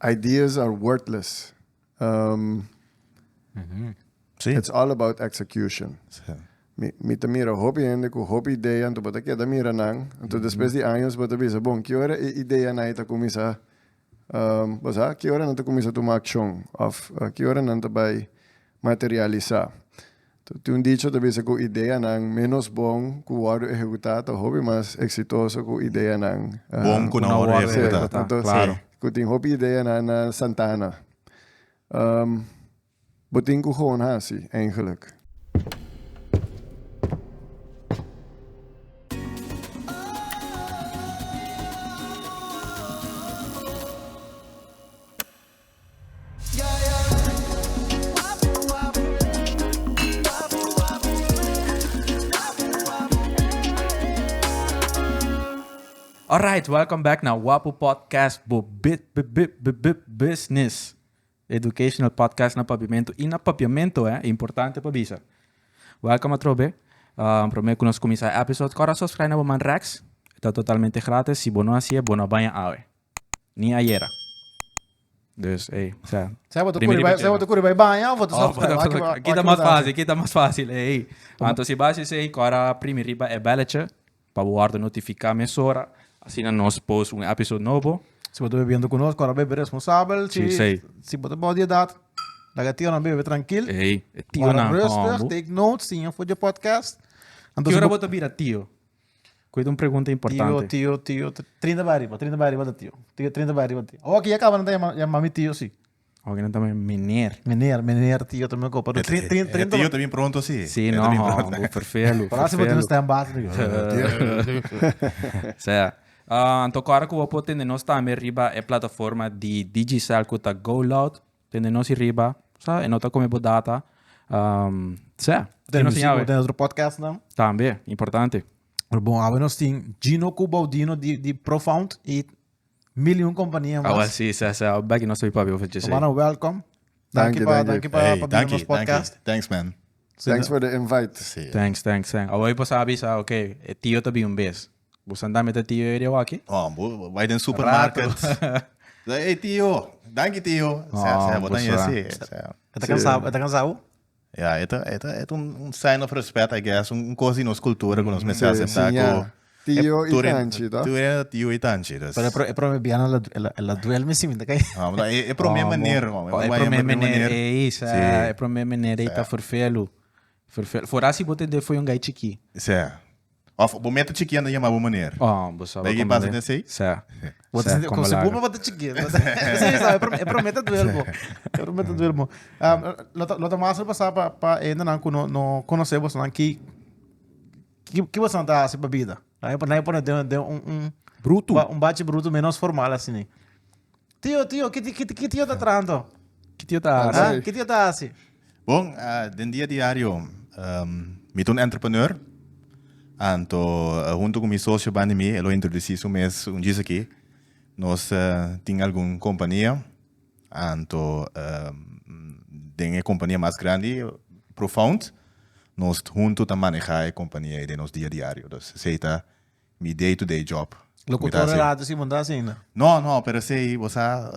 Ideas are worthless. Si. It's all about execution. Si. Mi, mi ta mira hopi hende ku hopi idea, anto bo ta keda mira nan, anto despues di años bo ta bisa, bon, ki ora e ideanan ei ta kuminsá, bo sa, ki ora nan ta kuminsá tuma akshon òf ki ora nan ta bai materialisá. Tin un dicho ta bisa ku ideanan ménos bon ku wòrdu ehekutá ta hopi mas eksitoso ku ideanan bon ku na wòrdu ehekutá. Klaru. Ku tin hopi ideanan na Santana. Bo tin ku kon hasi eingelik? Alright, welcome back na Wapu Podcast, bo bi-bi-bi-bi-bi-business educational podcast na Papiamento i na Papiamento, eh, importante pa bisa. Welcome atrobe. Um, prome ku nos kuminsá e episode, kòrda suskrái na bo man rèks. Ta totalmente gratis. Si bo no hasié, bo no a baña awe. Ni ayera. Dus ey, o sea. Sea bo ta kuri bai, sea bo ta kuri bai baña of bo ta sòrta skada. Aki bo, aki bo. Aki ta mas fásil, aki ta mas fásil, ey. Anto si bo a haci esei, kòra primi riba e bèllechi pa bo wòrdu notifiká mesora, asina nos post un episode nobo. Si bo ta bebiendo ku nos, kòra bebe responsabel. Si, si bo ta bou di edat, laga e tionan bebe trankil. Ey, e tionan hòmber. Wòrdu rùstig, take notes, siña for dje podcast. Ki ora bo ta bira tio? Cu yta un pregunta importante. Tio, tio, tio, trinta bay arriba, trinta bay arriba ta tio. Tio, trinta bay arriba tio. Oki, ya caba nan ta yama, yama mi tio, si. Oki nan ta yama meneer. Meneer, meneer, tio, ta mi copa. E trin, trin, trin. tio ta bin pronto, si. Si, no, bu ferfelu, ferfelu. Para si bo tin un stand baas, mi. Sea, anto cora cu bo por tende nos tambe riba e plataforma di Digicel cu ta Go Loud. Tende nos i riba. Sa, e no ta come bo data. Um, seh. Tende nos i tende otro podcast nan. Tambe, importante. Pero bon, awe nos tin Gino cu Baudino di, di Profound i miljoen compania mas. Awe si, seh, seh. Bek nos ta papi over jese. Mano, welcome. Danki pa, danki pa, pa bini nos podcast. Thanks man. Thanks for the invite. Thanks, thanks, thanks. Awe pasa bisa, okay, e tio ta bin un bes. Bo san dame ta tio Eddie awaki? Oh, bo bai den supermarket. Ey, e tio, danki tio. Sea, sea, bo ta yin así. E ta cansa, e ta cansa bo? Ya, e ta, e ta, e ta un sign of respect, I guess, un cos di nos cultura cu nos mester acepta cu... Tio y tanchi, ta? Tur hende ta tio y tanchi, dus. Pero e prome bia nan el a duel mi siminda kay. Oh, but e prome meneer, man. E prome meneer, ey, sa, e prome meneer ey ta forfelu. Ferfel. Fora si bo tende foi un gai chikí. Sè. Of bo meta chikí anda yama bo maner. Oh, bo sa. Bay ki pasa den esei? Sè. Bo ta sinti komo si bo tabata chikí. Si sa, e prome ta duel bo. E prome ta duel bo. Lo ta mas repasá pa pa hendenan ku no no konosé bosonan ki ki bosonan ta hasi pa bida. Nan e pone den den un un. Brutu. Un bachi brutu menos formal asini. Tio, tio, ki ki ki tio ta traha anto? Ki tio ta hasi? Ah, ki tio ta hasi? Bon, ah, den dia diario, um, mi ta un entrepreneur. Anto, eh, hunto ku mi socio banda mi, e lo introducí su mes un djis aki. Nos eh, tin algun kompania. Anto, eh, den e kompania mas grandi, Profound, nos hunto ta maneha e kompania ei den nos dia diario. Dus esei ta. mi day to day job. Locutor e radio si bo ta asina. No no pero esey bo sa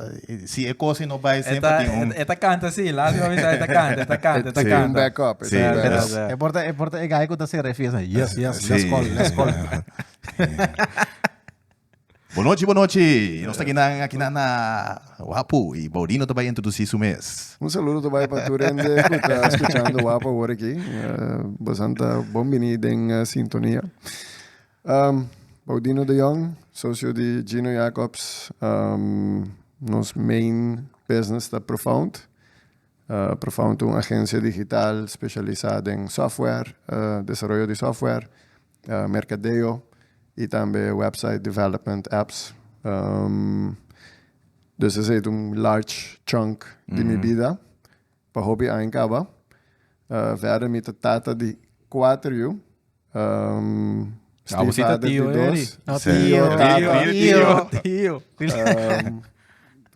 si e cosa no bay siempre tin un. E ta canta si laatro bo avisa e ta canta e ta canta e ta canta. E tin un back up e tin un back up. E por ta e por ta e guy cu ta cera e fiesta yes yes let's call let's call. Bonochi bonochi nos ta kinan akinan na. Wapu y Baudino ta bay introduci su mes. Un saludo ta bay pa tur hende cu ta scuchando Wapu awor aki. Bosan ta bon bini den sintonia. Baudino de Jong, socio di Gino Jacobs, nos main business ta Profound. Profound ta un agencia digital specialisa den software, desaroyo di software. merkadeo i tambe website development, apps. Dus esei ta un large chunk di mi bida pa hopi aña kaba. Verder mi ta tata di kuater yu, stiefvader di dos, tio, tata,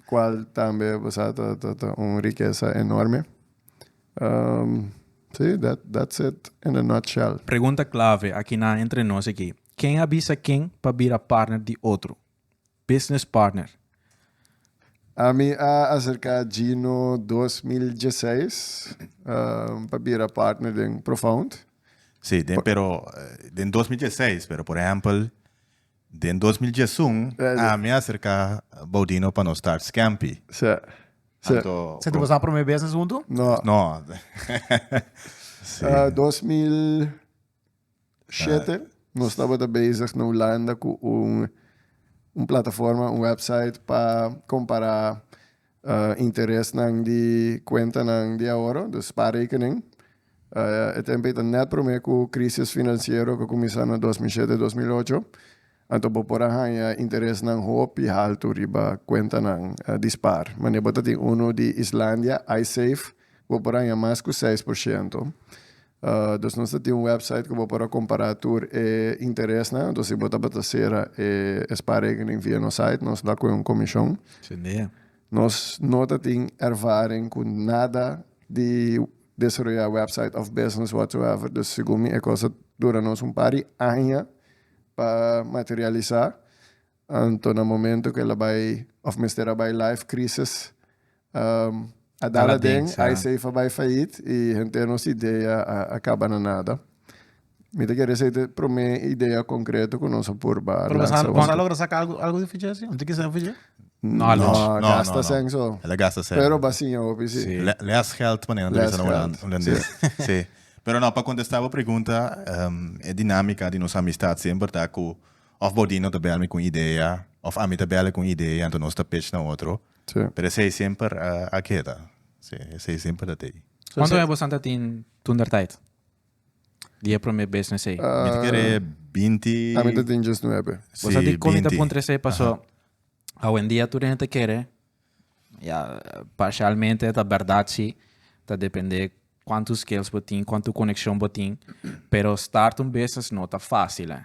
kual tambe ta un rikesa enorme. Sí, that's it in a nutshell. Pregunta clave aki na entre nos aquí, ken a bisa ken pa bira partner di otro? Business partner. Ami a acerca Gino dos mil dieseis pa bira partner den Profound. Sí, den pero den dos mil dieseis pero por ehempel. Den dos mil diesun ami a serka Baudino pa nos start Scampi. Sí. Sí. Anto, Senti boso a prome business huntu? No. No. sí. Uh, 2007 uh. nos tabata bezig na Hulanda cu un, un plataforma, un website pa compara interesnan di kuentanan di ahorro, dus spaarrekening. E tempo ei ta nèt promé ku krísis finansiero ku a kuminsá na dos mil shete, dos mil ocho. Anto bo por a haña interesnan hopi haltu riba kuentanan di spaar. Manera bo ta tin unu di Islandia, Icesave, bo por haña mas ku seis por shento. Dus nos ta tin un wèpsait ku bo por a kompará tur e interesnan. Anto si bo tabata sera e sparekening via nos sait, nos la ku e un komishon. Genial. Nos no ta tin ervaring ku nada di desaroyá wèpsait òf business whatsoever. Dus segun mi e kos ta dura nos un par di aña pa materialisá. Anto na momento cu el a bay, of mester a bay life crisis, a dal aden, ai safe a bay fayit y henter nos idea a caba na nada. Mi ta kere esey ta e prome idea concreto cu nos a por ba lansa. Nos a logra saca algo di eficiency? Anto kisa eficiente? No, no, no. Gasta asen so. El a gasta asen. Pero ba siña hopi si. Si. Less geld manera nan ta bisa na holandés. Si. Pero no, pa contesta bo pregunta, e dinamica di nos amistad semper ta cu. Of Bodino ta bel mi cu un idea, of ami ta bel e cu un idea, anto nos ta pech na otro. Sí. Pero esey semper a keda. Sí, esey semper ta tey. Cuantu aña bosan ta tin toentertijd, di e prome bes na esey? Mi ta kere binti. Ami ta tin diesnuebe. Sí, Bo sa di con mi ta binti. puntra esey? Paso awendia tur hende ta kere, ya parcialmente ta berdad si, ta depende cuantu skills bo tin, cuantu conexion bo tin, pero start un business no ta facil, eh.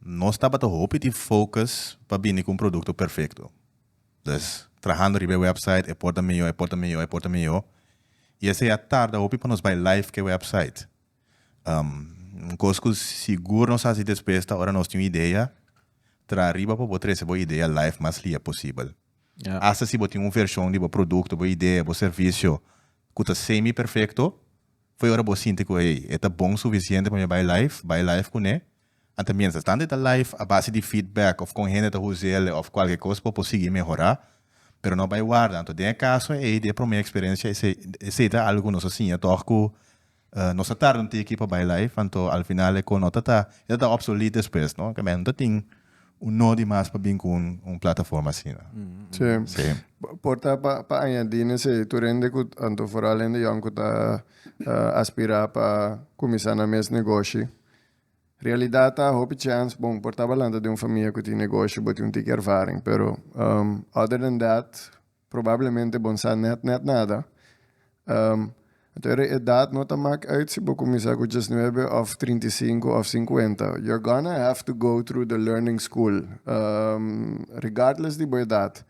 Nos tabata hopi tin focus pa bini cu un producto perfecto. Dus, trahando riba e website e por ta mihó, e por ta mihó, e por ta mihó. Y esey a tarda hopi pa nos bay live cu e website. Un cos cu sigur nos a haci despues ta ora nos tin un idea, traha riba pa bo trece bo idea live mas lia posibel. Hasta si bo tin un version di bo producto, bo idea, bo servicio cu ta semi perfecto, fo'i ora bo sinti cu hey, e ta bon suficiente pa mi bay live, bay live cune A ta miensa esnan di ta live a base di feedback of con hende ta huse'le of cualke cos pa por sigui mehora, pero no bay warda anto den e caso ey di e prome experencia esey ta algo cu nos a siña tog cu nos a tarda un tiki pa bay live anto al final e cos no ta e ta ta obsolete despues no esaki nan no ta tin un no di mas pa bin cu un plataforma asina. Sí. Por ta pa añadi na esey tur hende cu anto foral hende yòn cu ta aspira pa cuminsa nan mes negoshi Realidad ta, hopi chèns bon por ta balanta den un famia ku tin negoshi, bo tin un tiki ervaring, pero other than that probablemente bo no sa nèt nèt nada. Anto e edad no ta mak uit si bo kuminsá ku diesnuebe òf trinta i sinku òf sinkuenta, you're gonna have to go through the learning school regardless di bo edad.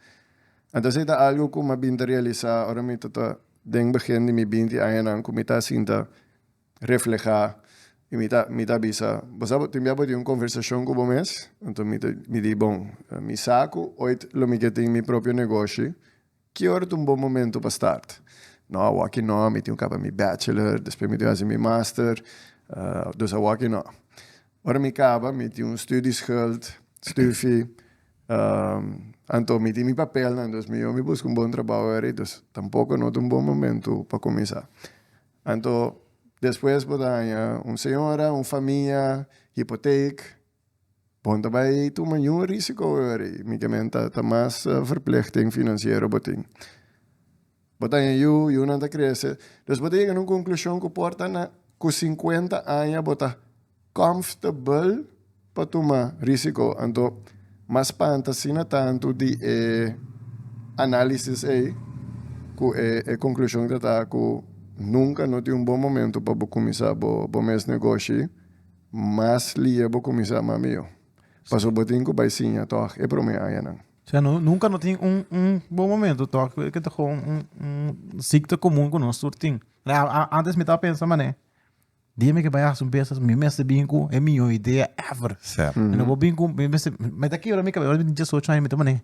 Anto esei ta algu ku mi a bin ta realisá ora mi ta ta den begin di mi binti añanan ku mi ta sinta reflehá. I mi ta mi ta bisa, Bo sa bo tin bia bo tin un konversashon ku bo mes? Anto mi ta mi di, Bon, mi sa ku oit lo mi ke tin mi propio negoshi, ki ora ta un bon momentu pa start? Nò, awoki nò, mi tin kaba mi bachelor, despues mi tin hasi mi master, dus awoki nò. Ora mi kaba mi tin un studieschuld, stufi, anto mi tin mi papelnan, dus mi yo mi buska un bon trabou ahori, dus tampoko no ta un bon momentu pa kuminsá. Anto despues bo ta haña un señora, un famia, hipoteek. Bon ta bai tuma yu risico wehori, mikemen ta ta mas verplechting financiero bo tin. Bo ta haña yu, yunan ta crece. Dus bo ta yega na un conclusion cu por ta na cu cincuenta aña bo ta. Kòmftabel pa tuma rísiko, anto ma spanta asina tantu di e análisis ei ku e konklushon ta ta ku nunka no tin un bon momentu pa bo kuminsá bo mes negoshi, mas liye bo kuminsá mas mihó pasobra bo tin ku bai siña tòg e promé añanan. Sea, nunka no tin un un bon momentu tòg, ku eken ta un un sikta komun ku nos tur tin. Antes mi tabata pensa manera. Dia mi ke bai hasi un business mi mes ta bin ku e mihó idea ever. Sep. Mi no por bin ku mi mes mi ta kebra mi kabes ora mi tin diesocho aña mi ta manera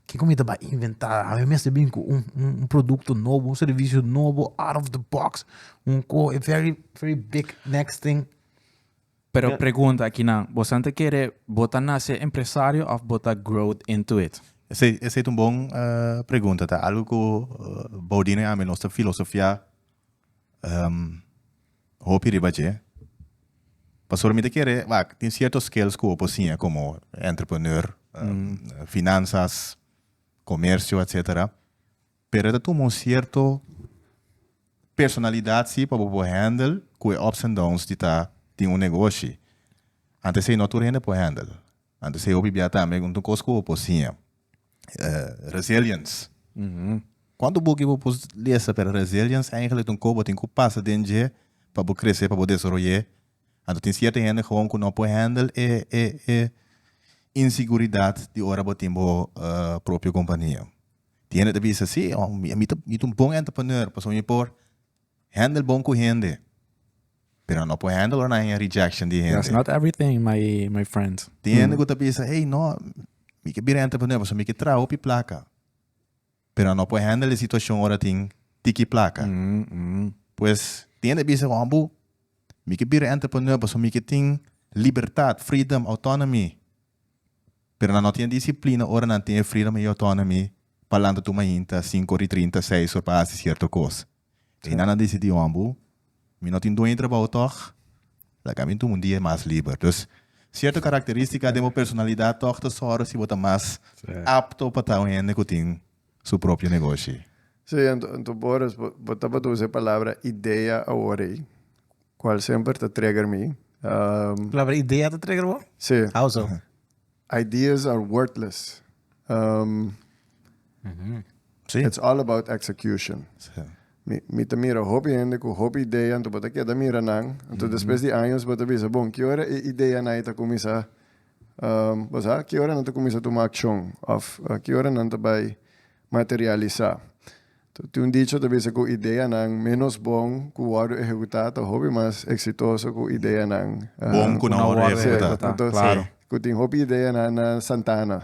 ke ku mi ta bai inventá mi mes ta bin ku un un un produkto nobo un servisio nobo out of the box un ko e very very big next thing. Pero pregunta aki nan bo esnan ta kere bo ta nase empresario of bo ta growed into it? Esei esei ta un bon pregunta ta algo ku Bodine ami nos ta filosofiá Um, hopi riba dje. Pastor, mi ta kere, wak, tin cierto skills ku opo siña komo entrepreneur, um, finanzas, komersio, etcetera. Pero e ta tuma un cierto personalidad si pa bo por handle ku e ups and downs di ta tin un negoshi. Antes ei no tur hende por handle. Anto se hopi bia tambe un kos ku bo por siña. Resilience. Kuantu buki bo por lesa pero resilience eigenlijk ta un kos ku bo tin ku pasa den dje pa bo krese, pa bo desaroy'é. Anto tin sierto hende gewoon ku no por hèndel e e e inseguridat di ora bo tin bo propio kompania. Tin hende ta bisa si mi ta un bon entrepreneur pasobra mi por Handle bon cu hende. Pero no por handle ora nan haya rejection di That's hende. not everything, my my friend. Tin hende cu ta bisa, hey, no, mi ke bira entra pa nuevo, so mi ke traha hopi placa. Pero no por handle e situacion ora tin tiki placa. Mm, mm. Pues, tin hende bisa, hombo, mi ke bira entra pa nuevo, so mi ke tin libertad, freedom, autonomy. pero nan no tin e disiplina ora nan tin e freedom ey autonomy pa lanta tu mainta sinku ora y trinta seis ora pa haci cierto cos ey nan a dicidi hombo mi no tin dueño di trabaho tog laga mi dun un dia mas liber dus cierto caracteristica den bo personalidad tog ta sor si bo ta mas apto pa ta un hende cu tin su propio negoshi. Sí, ento, ento Boris, bo, bo tabata usa e palabra idea awor ei, cual semper ta trigger mi. Um, Palabra idea ta trigger bo? sí, How so? ideas are worthless. Um, Sí. It's all about execution. Sí. Mi, mi ta mira hopi hende cu hopi idea, ento bo ta keda mira nan. Ento despues di años bo ta bisa, bon, ki ora e idea nan ei ta cuminsa Pasá, ki ora nan ta kuminsá tuma akshon? Òf, ki ora nan ta bai materialisá? Tin un dicho ta bisa ku ideanan ménos bon ku wòrdu ehekutá ta hopi mas eksitoso ku ideanan bon ku na wòrdu ehekutá. Ku tin hopi ideanan na Santana.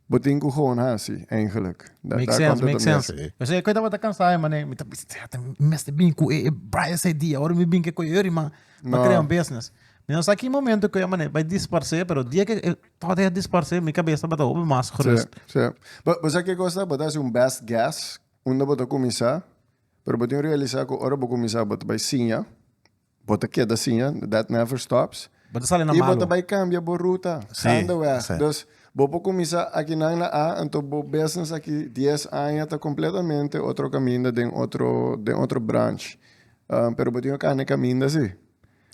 Bo tin cu gewoon haci, eigenlijk. Make sense, make sense. Eso e cu e tabata cansa e manera, mi ta bisa, sea, ta mester bin cu e Brian Saidie, ahora mi bin cu e cu e Eury, ma pa crea un business. Mi no sa ki momento cu e manera bai disparse, pero dia cu e tabata ya disparse, mi cabeza tabata hopi mas gerust. Sí, sí. Bo, bo sa kico es ta? Bo ta haci un best guess unda bo ta cuminsa, pero bo tin realiza cu ora bo cuminsa bo ta bai siña, Bo ta keda siña, that never stops. Bo ta sali na malu. I bo ta bai kambia bo ruta kanda wèg. Dus, bo por kuminsá aki nan na A, anto bo business aki dies aña ta kompletamente otro kaminda den otro, den otro branch. Pero bo tin yu kanda e kaminda si.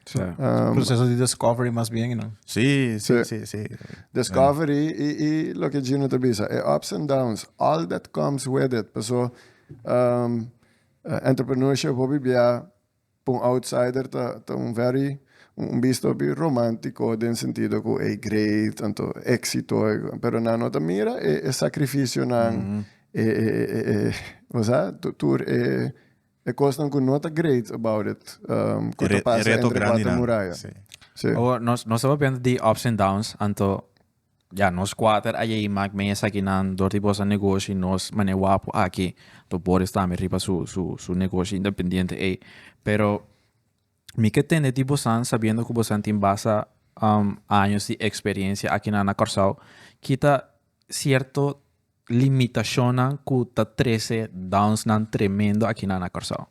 Sa. Proseso di discovery mas bien i nan. Si, si, si, si. Discovery i, i loke Gino ta bisa, e ups and downs, all that comes with it. Paso, entrepreneurship hopi bia. Pa un outsider ta ta un very un bista hopi romantico den sentido cu ey great anto exito ey pero nan no ta mira e e sacrificionan e e e e bo sa tu tur e e cosnan cu no ta great about it cu ta pasa entre cuater muraya si. Awor nos nos ta papia di ups and downs anto Ya nos kuater a yei mak men esakinan dor di boso negoshi nos mane wapu aki to Boris tambe riba su su su negoshi independiente ei pero mi ke tende di bosan sabiendo ku bosan tin basta años di eksperensia akinan na Kòrsou kita sierto limitashonnan ku ta trese downsnan tremendo akinan na Kòrsou.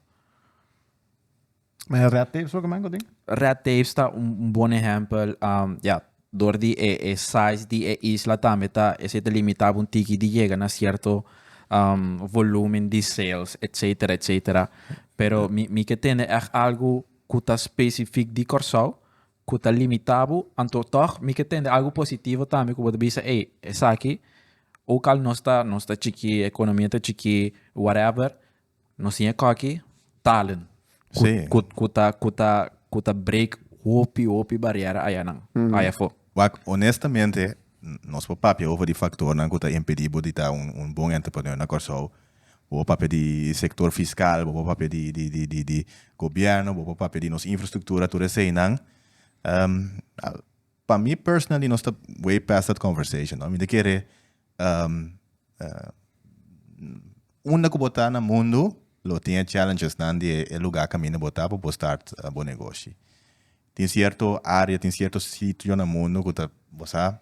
Me red tapes ook man godin? Red tapes ta un, un bon ehempel. Um, ja, door di e, e size di e isla tambe ta, ese ta limita un tiki di yega na cierto um, volumen di sales, etcetera, etcetera. Pero mi, mi ke tende echt algo ku ta specifiek di Kòrsou, ku ta limita bo, anto tòg mi ke tende algo positivo tambe ku bo ta bisa, ey, esaki, ook al nos ta, nos ta chikí, e economia ta chikí, whatever, Nos tin e koki talen ku ku ku ta ku ta ku ta break hopi hopi bariera ayanan ayafo. Wak, honestamente nos por papia over di faktornan ku ta impedí bo di ta un un bon entrepreneur na Kòrsou. Bo por papia di sektor fiskal, bo por papia di di di di di gobierno, bo por papia di nos infrastruktura, tur eseinan. Pa mi personally nos ta way past that conversation no mi ta kere um unda ku bo ta na mundu lo tin e challengesnan di e luga kaminda bo ta pa bo start bo negoshi tin sierto area tin sierto sitio na mundu ku ta bo sa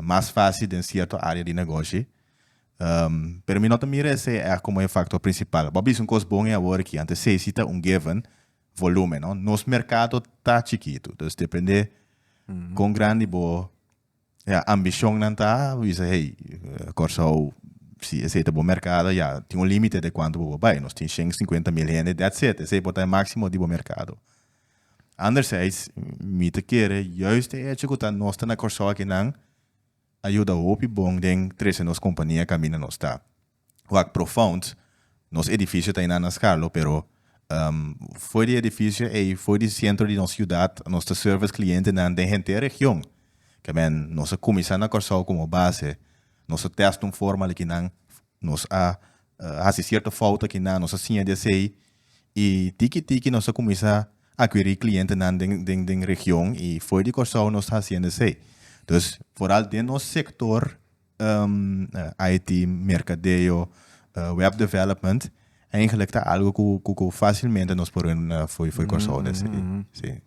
mas fasi den sierto area di negoshi pero mi no ta mira esei komo e faktor prinsipal bo a bisa un kos bon e awor aki anto esei si ta un given volumen, no? Nos mercado ta chikitu, dus depende kon grandi bo ya, ambishonnan ta, bo bisa hey, Kòrsou, si esei ta bo mercado, ya, tin un límite de kuantu bo por bai. Nos tin shen shinkuenta mil hende, dèt set. Esei por ta e máksimo di bo merkado. Anderzijds, mi ta kere juist e echo ku ta nos ta na Kòrsou akinan a yuda hopi bon den trese nos kompania kaminda nos ta. wak profound, nos edificio ta eynan na Scarlo pero foe di edificio ey, foe di centro di nos ciudad nos ta service clientenan den henter region, kebien nos a cuminsa na Corsou como base, nos a test un forma alikinan, nos a haci cierto fout akinan, nos a siña di esey y tiki tiki nos a cuminsa aquiri clientenan den region y foe di Corsou nos ta haciendo esey, dus foral den nos sector. um, IT, mercadeo, uh, web development, eigenlijk ta algo ku, ku, ku facilmente nos por un uh, foi, foi Curaçao des. Mm -hmm. Sí.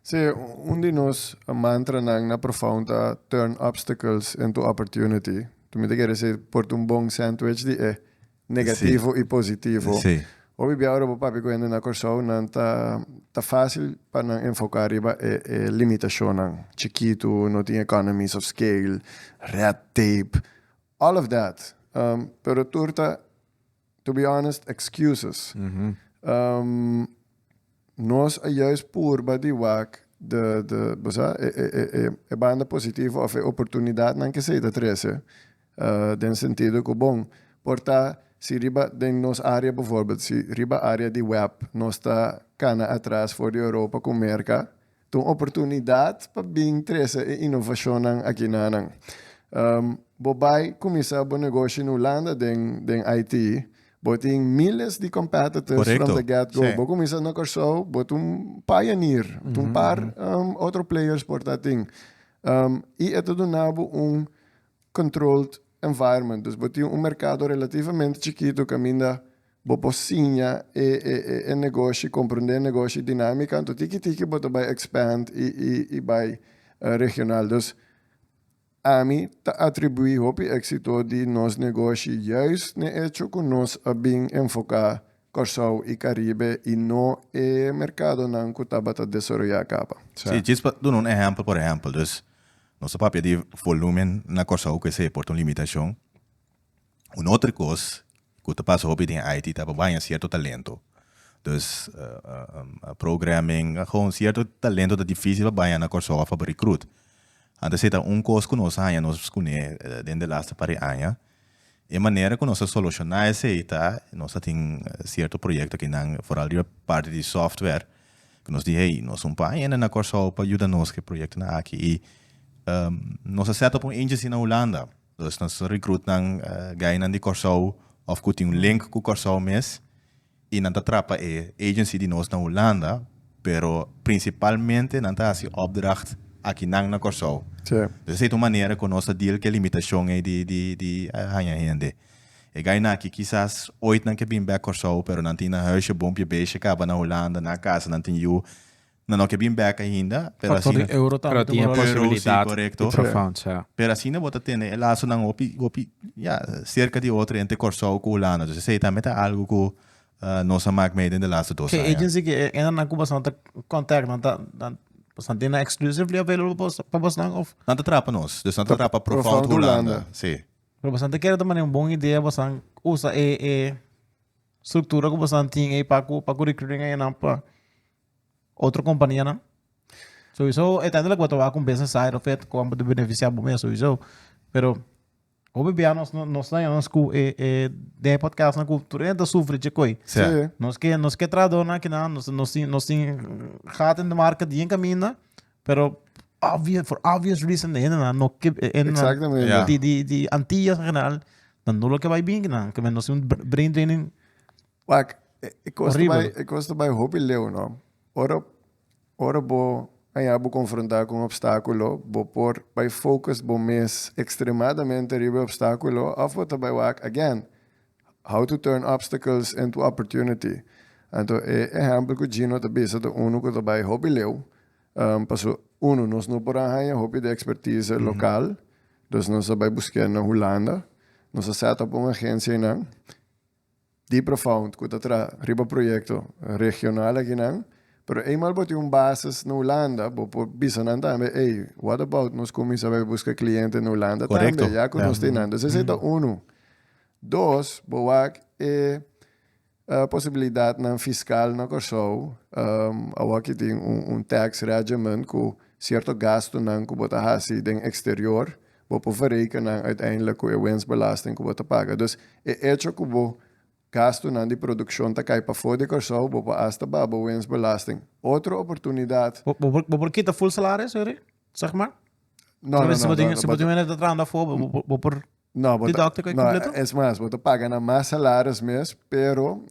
Sí, un di nos mantra nan na profound ta turn obstacles into opportunity. Tu me te quiere decir, por un bon sandwich di e. Eh, negativo y positivo. Hopi bia ora bo papia cu hende na Corsou nan ta ta facil pa nan enfoca riba e e limitacionnan, chikitu, no tin economies of scale, red tape, all of that, pero tur ta, to be honest, excuses. Nos a juist purba di wak de, de, bo sa, e, e, e, e, e banda positivo of e oportunidatnan ke esei ta trese, den sentido ku bon, por ta si riba den nos área bovorbel, si riba área di wèp nos ta kana atras for di Europa ku Merka, Ta un oportunidat pa bin trese e inovashonnan akinanan. Bo bai kuminsá bo negoshi in Ulanda den den IT, bo tin miles di competitors from the get go. Bo kuminsá na Kòrsou, bo ta un pioneer. Ta un par otro players por ta atin. I e ta duna bo un controlled environment. Dus bo tin un merkado relativamente chikitu kaminda Bo por siña e e e e negoshi, comprende e negoshi dinamica, anto tiki tiki bo ta bai expand y y y bai regional. Dus ami ta atribui hopi exito di nos negoshi juist n'e hecho cu nos a bin enfoca Corsou y Caribe y no e mercadonan cu tabata desaroya caba. Si, djis pa duna un ehempel, por ehempel, dus nos ta papia di volumen na Corsou cu esey por ta un limitacion. Un otro cos cu ta pasa hopi den Haiti ta baña cierto talento. Dus programming, agon cierto talento ta dificil pa baña na Corsou of pa recruit. Anto esa ta un cos cu nos a haña nos scune den de laster par e aña. E manera cu nos ta soluciona esey ta nos a tin cierto proyecto aki nan foral riba parti di software cu nos di hey nos un par hende na Corsou pa yuda nos cu e proyectonan aki y nos a set up un agency na Hulanda. Nos nos ta recruit nan gainan di Kòrsou of ku tin un link ku Kòrsou mes i nan ta trapa e agency di nos na Hulanda pero prinsipalmente nan ta hasi opdracht aki nan na Kòrsou. Pues esei ta un manera ku nos ta deal ku e limitashon ei di di di haña hende. E gainan aki kisas oit nan ke bin bèk Kòrsou pero nan tin nan huisje bon piebeshi kaba na Hulanda, nan a kasa, nan tin yu, No no ke bin bek ainda pero asina. Factor di euro tambe ta moro asina. Euro si corecto. Pero asina bo ta tene e lasonan hopi hopi ya cerca di otro hende Corsou cu Hulanda entonces esey tambe ta algo cu nos a mak mee den de laste dos aña. Ke agency ke e hendenan cu basnan ta contact nan ta basnan tin nan exclusively available pa basnan of. Nan ta traha pa nos dus nan ta traha pa Profound Hulanda si. Pero basnan ta kere ta mane un bon idea basnan usa e structura cu basnan tin ey pa cu recruiting ayenan pa. otro kompanianan. Souiso uiteindelijk bo ta wak un business side of it ku anba ta benefisiá bo mes souiso. Pero hopi bia nos no nos ta nos ku e e den e podcastnan ku tur hende ta sufri chikui. Sí. Sí. Nos ke nos ke trahadornan akinan nos nos tin nos tin gat in de market bien kaminda pero obvio for obvious reason e hendenan no ke e hendenan Exactamente. Ja. di di di Antillas en general nan no lo ke bai binkinan ke men nos tin brain draining Wak, e kosta bai hopi leu, no. Ora, ora bo haña bo konfrontá ku un opstákulo, bo por bai focus bo mes ekstremadamente riba e opstákulo òf bo ta bai wak, again, how to turn obstacles into opportunity. Anto, e ehèmpel ku Gino ta bisa ta unu ku ta bai hopi leu. Paso, unu, nos no por a haña hopi di ekspertise lokal, dus nos a bai busk'é na Hulanda. Nos a sèt òp un agensia einan. di Profound cu ta traha riba proyecto regional akinan, pero eenmaal bo tin un basis na Hulanda bo por bisa nan tambe, ey, what about nos cuminsa bai busca cliente na Hulanda tambe, Correcto, ya. ya cu nos tin nan. Dus esey ta unu. Dos, bo wak e posibilidadnan fiscal na Corsou, awaki tin un tax regiment cu cierto gastonan cu bo ta haci den exterior Bo por verreken nan uiteindelijk cu e winstbelasting cu bo ta paga. Dus e hecho cu bo gastonan di produccion ta cay pafo di Cor-sou, bo por hasta baha bo winstbelasting. Otro oportunidad. Bo por kita full salaris hoy ri? Zeg maar? No, no, no, no, no, no. Si bo tin mene ta trahando afo, bo por deducten cu e completo? No, bo ta, no, es mas, bo ta paga nan mas salaris mes, pero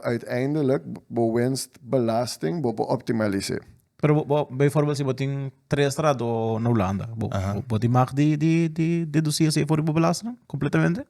uiteindelijk bo winstbelasting bo por optimalis'é. Pero bo, bo, bijvoorbeeld si bo tin tres straat o na Hulanda, bo, Aha. bo, bo di mag di, di, di deducí así voor bo belasting completamente?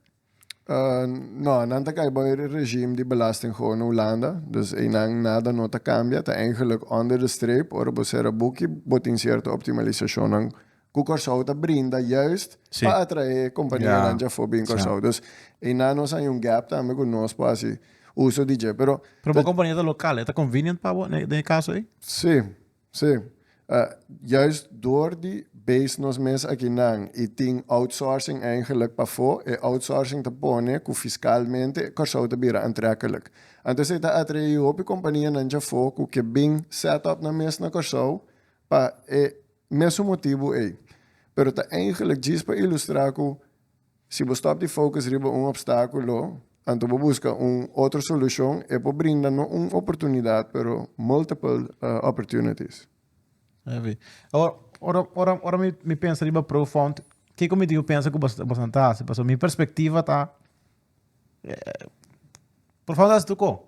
Uh, no, nan ta kai boy regime di belasting gewoon na Hulanda. Dus einan nada no ta cambia. Ta eigenlijk onder de streep, ora bo cera boekje, bo tin cierto optimalisacionnan ku Kòrsou ta brinda juist pa atraé kompanianan dje afó bin Kòrsou. Dus einan nos hay un gap tambe ku nos por hasi uso di dje. Pero. Pero bo kompania ta lokal, e ta convenient pa bo den e kaso ei? Sí, sí. Juist dor di base nos mes akinan i tin outsourcing eigenlik pafó, e outsourcing ta pone ku fiskalmente Kòrsou ta bira antrekelijk. Anto esei ta atraé hopi kompanianan dje afó ku ke bin set up nan mes na Kòrsou pa e Mesun motibu ei, pero ta eingelek djis pa ilustrá ku si bo stòp di focus riba un opstákulo anto bo buska un otro solushon, e por brinda no un oportunidat pero multiple opportunities. Heavy. Awor, ora, ora, ora mi, mi pensa riba Profound, kiko mi dibi pensa ku bos, bosan ta hasi? Pasobra mi perspektiva ta, Profound a hasi tu ko?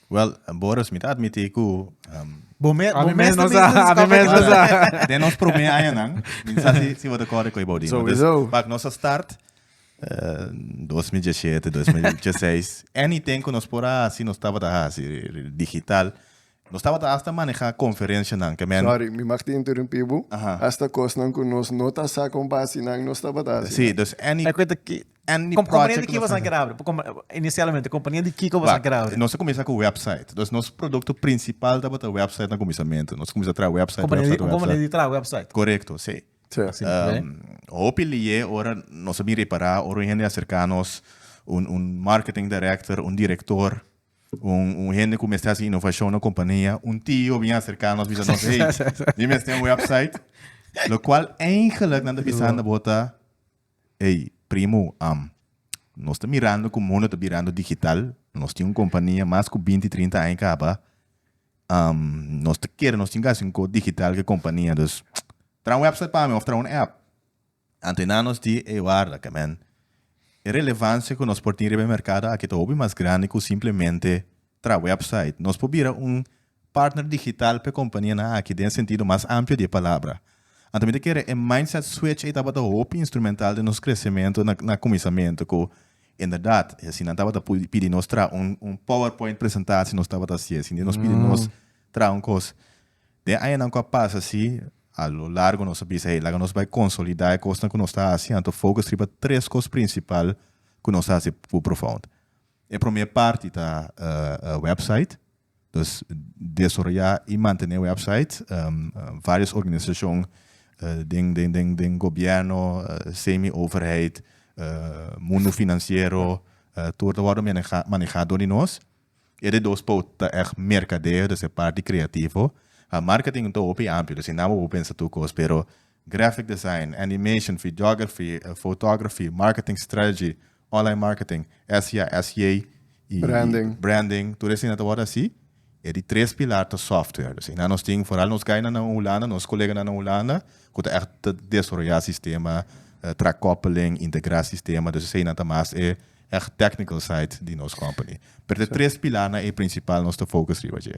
Well, Boris, mi ta admití ku Bo me, bo mes no sa, ami mes no sa. Den nos promé añanan, mi no sa si si bo ta kòrda ku ei Baudí. Souwisó. Dus, bak nos a start, eh, dos mi dje shete, dos mi dje seis, anything ku nos por a hasi, nos tabata hasi digital. Nos tabata hasta manehá konferenshanan, ke men. Sòri, mi mag ta interumpí bo? Aha. Hasta kosnan ku nos no ta sa kon basinan nos tabata hasi. Sí, dus any. Ai kuenta ki, Any project. Kompania di ki boso a kere abri? Inicialmente kompania di kiko boso a kere abri? Nos a kumisa ku website. Dus nos produkto prinsipal tabata website na kuminsamentu. Nos a kumisa traha website, website, website. Un kompania di traha website? Korekto, si. Hopi liye ora nos a bin repará, ora un hende a serká nos, un marketing director, un director, un hende ku mester hasi inovashon na kompania, un tio bin a serká nos bisa nos, hey, mi mester un website. Lokual, eigenlik nan ta bisa nan ta bota. Ey, primu, am, nos ta mirando cu mundo ta birando digital. Nos tin un compania mas cu binti, trinta aña caba. Am, nos ta kere nos tin casi un co digital cu e compania. Dus, traha un website pa mi of traha un app. Antenan nos di, ey, warda, camen. E relevancia cu nos por tin riba e mercado aki ta hopi mas grandi cu simplemente traha website. Nos por bira un Partner digital p'e kompanianan aki den e sentido mas amplio di e palabra. Anto mi ta kere e mindset switch ei tabata hopi instrumental den nos kresementu na kuminsamentu ku inderdat e asina nan tabata pidi nos traha un powerpoint presentasie nos tabata hasi asina nos pidi nos traha un kos. Den e añanan ku a pasa si a lo largo nos a bisa hey laga nos bai konsolida e kosnan ku nos ta hasi anto focus riba tres kos prinsipal ku nos ta hasi pu profound. E promé parti ta website. Nos desoroyá i mantené wèpsait. Vários organisashon den den den den gobièrnu, semi overheid, mundu finansiero, tur ta wòrdu menehá manehá dor di nos. E de dos pout ta ègt merkadeo, dus e parti kreativo. Marketing ta hopi amplio, dus e nan bo por pensa tur kos pero graphic design, animation, videography, photography, marketing strategy, online marketing, SEA, SEA, y Branding. branding, tur esina ta wòrdu hasi, e di tres pilar ta software. Pues asina nos tin, foral nos gainan nan Hulanda, nos koleganan nan Hulanda, ku ta ègt ta desaroyá sistema, tra koppeling, integrá sistema, dus eseinan ta mas e ègt technical side di nos company. Pero ta e tres pilarnan e prinsipal nos ta focus riba dje.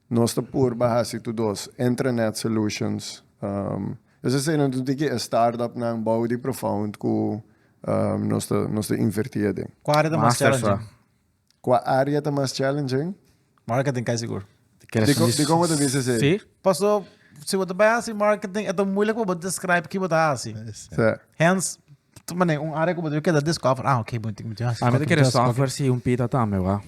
Nos ta purba hasi tu dos intranet solutions. Es esei nos tin ki e startupnan bou di Profound ku nos ta invertí aden. Kua área ta mas challenging? Kua área ta mas challenging? Marketing kai sigur. Dikon bo ta bisa esei? Sí. Paso si bo ta bai hasi marketing e ta muilik pa bo describe ki bo ta hasi. Hence, un área ku bo debe keda discover, ah ok, mi tin ki hasi software. Mi ta kere software si un pita tambe, wak.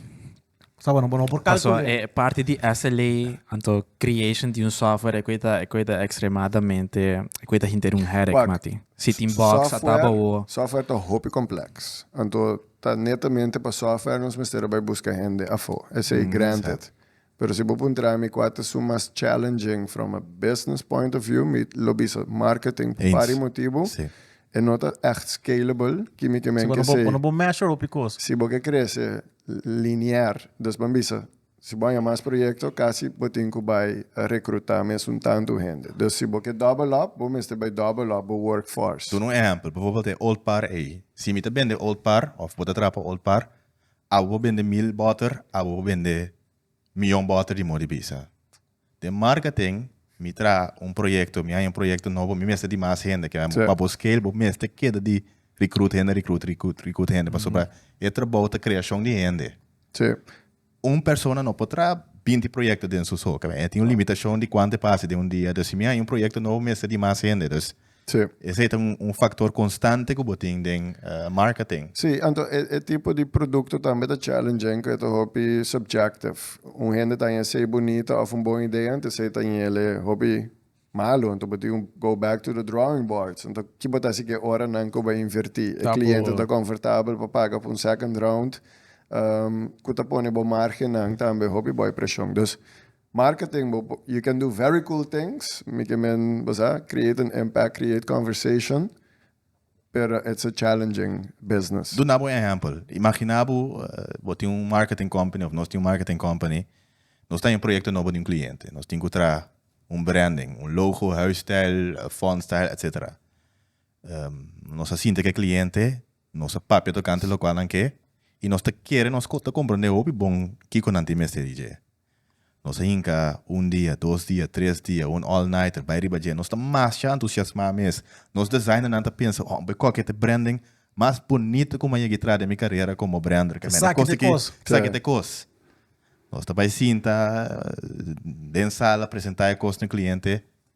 Paso e parti di SLA anto creation di un software e koe ta e koe ta extremadamente e koe ta hinter un headache mati. Si tin bugs a taba o. Software ta hopi complex anto ta netamente pa software nos mester a bai busca hende afo. Esey granted. Pero si bo puntra mi cua ta su mas challenging from a business point of view mi lo bisa marketing pari motibu E no ta echt scalable, kimicamen ke si. Cuando bo measure hopi cos. Si bo ke crece linear, dus ban bisa, si bo haña mas proyecto, casi bo tin cu bay recruta mes un tantu hende. Dus si bo ke double up, bo mester bay double up bo work force. Duna un ehempel, bijvoorbeeld e Old Par ey. Si mi ta bende Old Par, of bo ta traha pa Old Par, abo bo bende mil boter, abo bo bende miyon boter di mor di bisa. Den marketing mi traha un proyekto, mi haña un proyekto nobo, mi mester di mas hende, ke Sèt. pa bo scale bo mester keda di recruit hende, recruit, recruit, recruit hende pasobra e trabou ta creashon di hende. Sí. Un persona no por traha binti proyekto den su so, ke e tin un limitashon di kuantu e por hasi den un dia, dus si mi haña un proyekto nobo mester di mas hende, dus Sí. Esei ta un un faktor konstante ku bo tin den marketing. Sí, anto e e tipo di produkto tambe ta challenging ku e ta hopi subjective. Un hende ta haña esei bunita òf un bon idea, anto esei ta ñele hopi malu. Anto bo tin ku go back to the drawing boards. Anto ki bo ta hasi ku e oranan ku bo a invertí? E kliente ta komfortabel pa paga pa un second round ku ta pone bo margennan tambe hopi bai preshon. Dus Marketing bo you can do very cool things mi ke men bo sa create an impact create conversation pero it's a challenging business. Duna bo un ehempel. Imagina bo bo tin un marketing company of nos tin un marketing company nos ta den proyecto nobo di un cliente nos tin ku traha un branding un logo huis stijl font stijl etc. Nos a sinti ke cliente nos a papia tokante lokual nan ke y nos ta kere nos ta comprende hopi bon kiko nan tin mester di dje Nos a hinka un dia, dos dia, tres dia, un all nighter bai riba dje. Nos ta masha entusiasmá mes. Nos designernan ta pensa, Oh, bai koke te brending mas bunita ku mi a yega i traha den mi karera komo brender. Ke mene kos aki, esaki ta e kos. Nos ta bai sinta den sala, presentá e kos na kliente.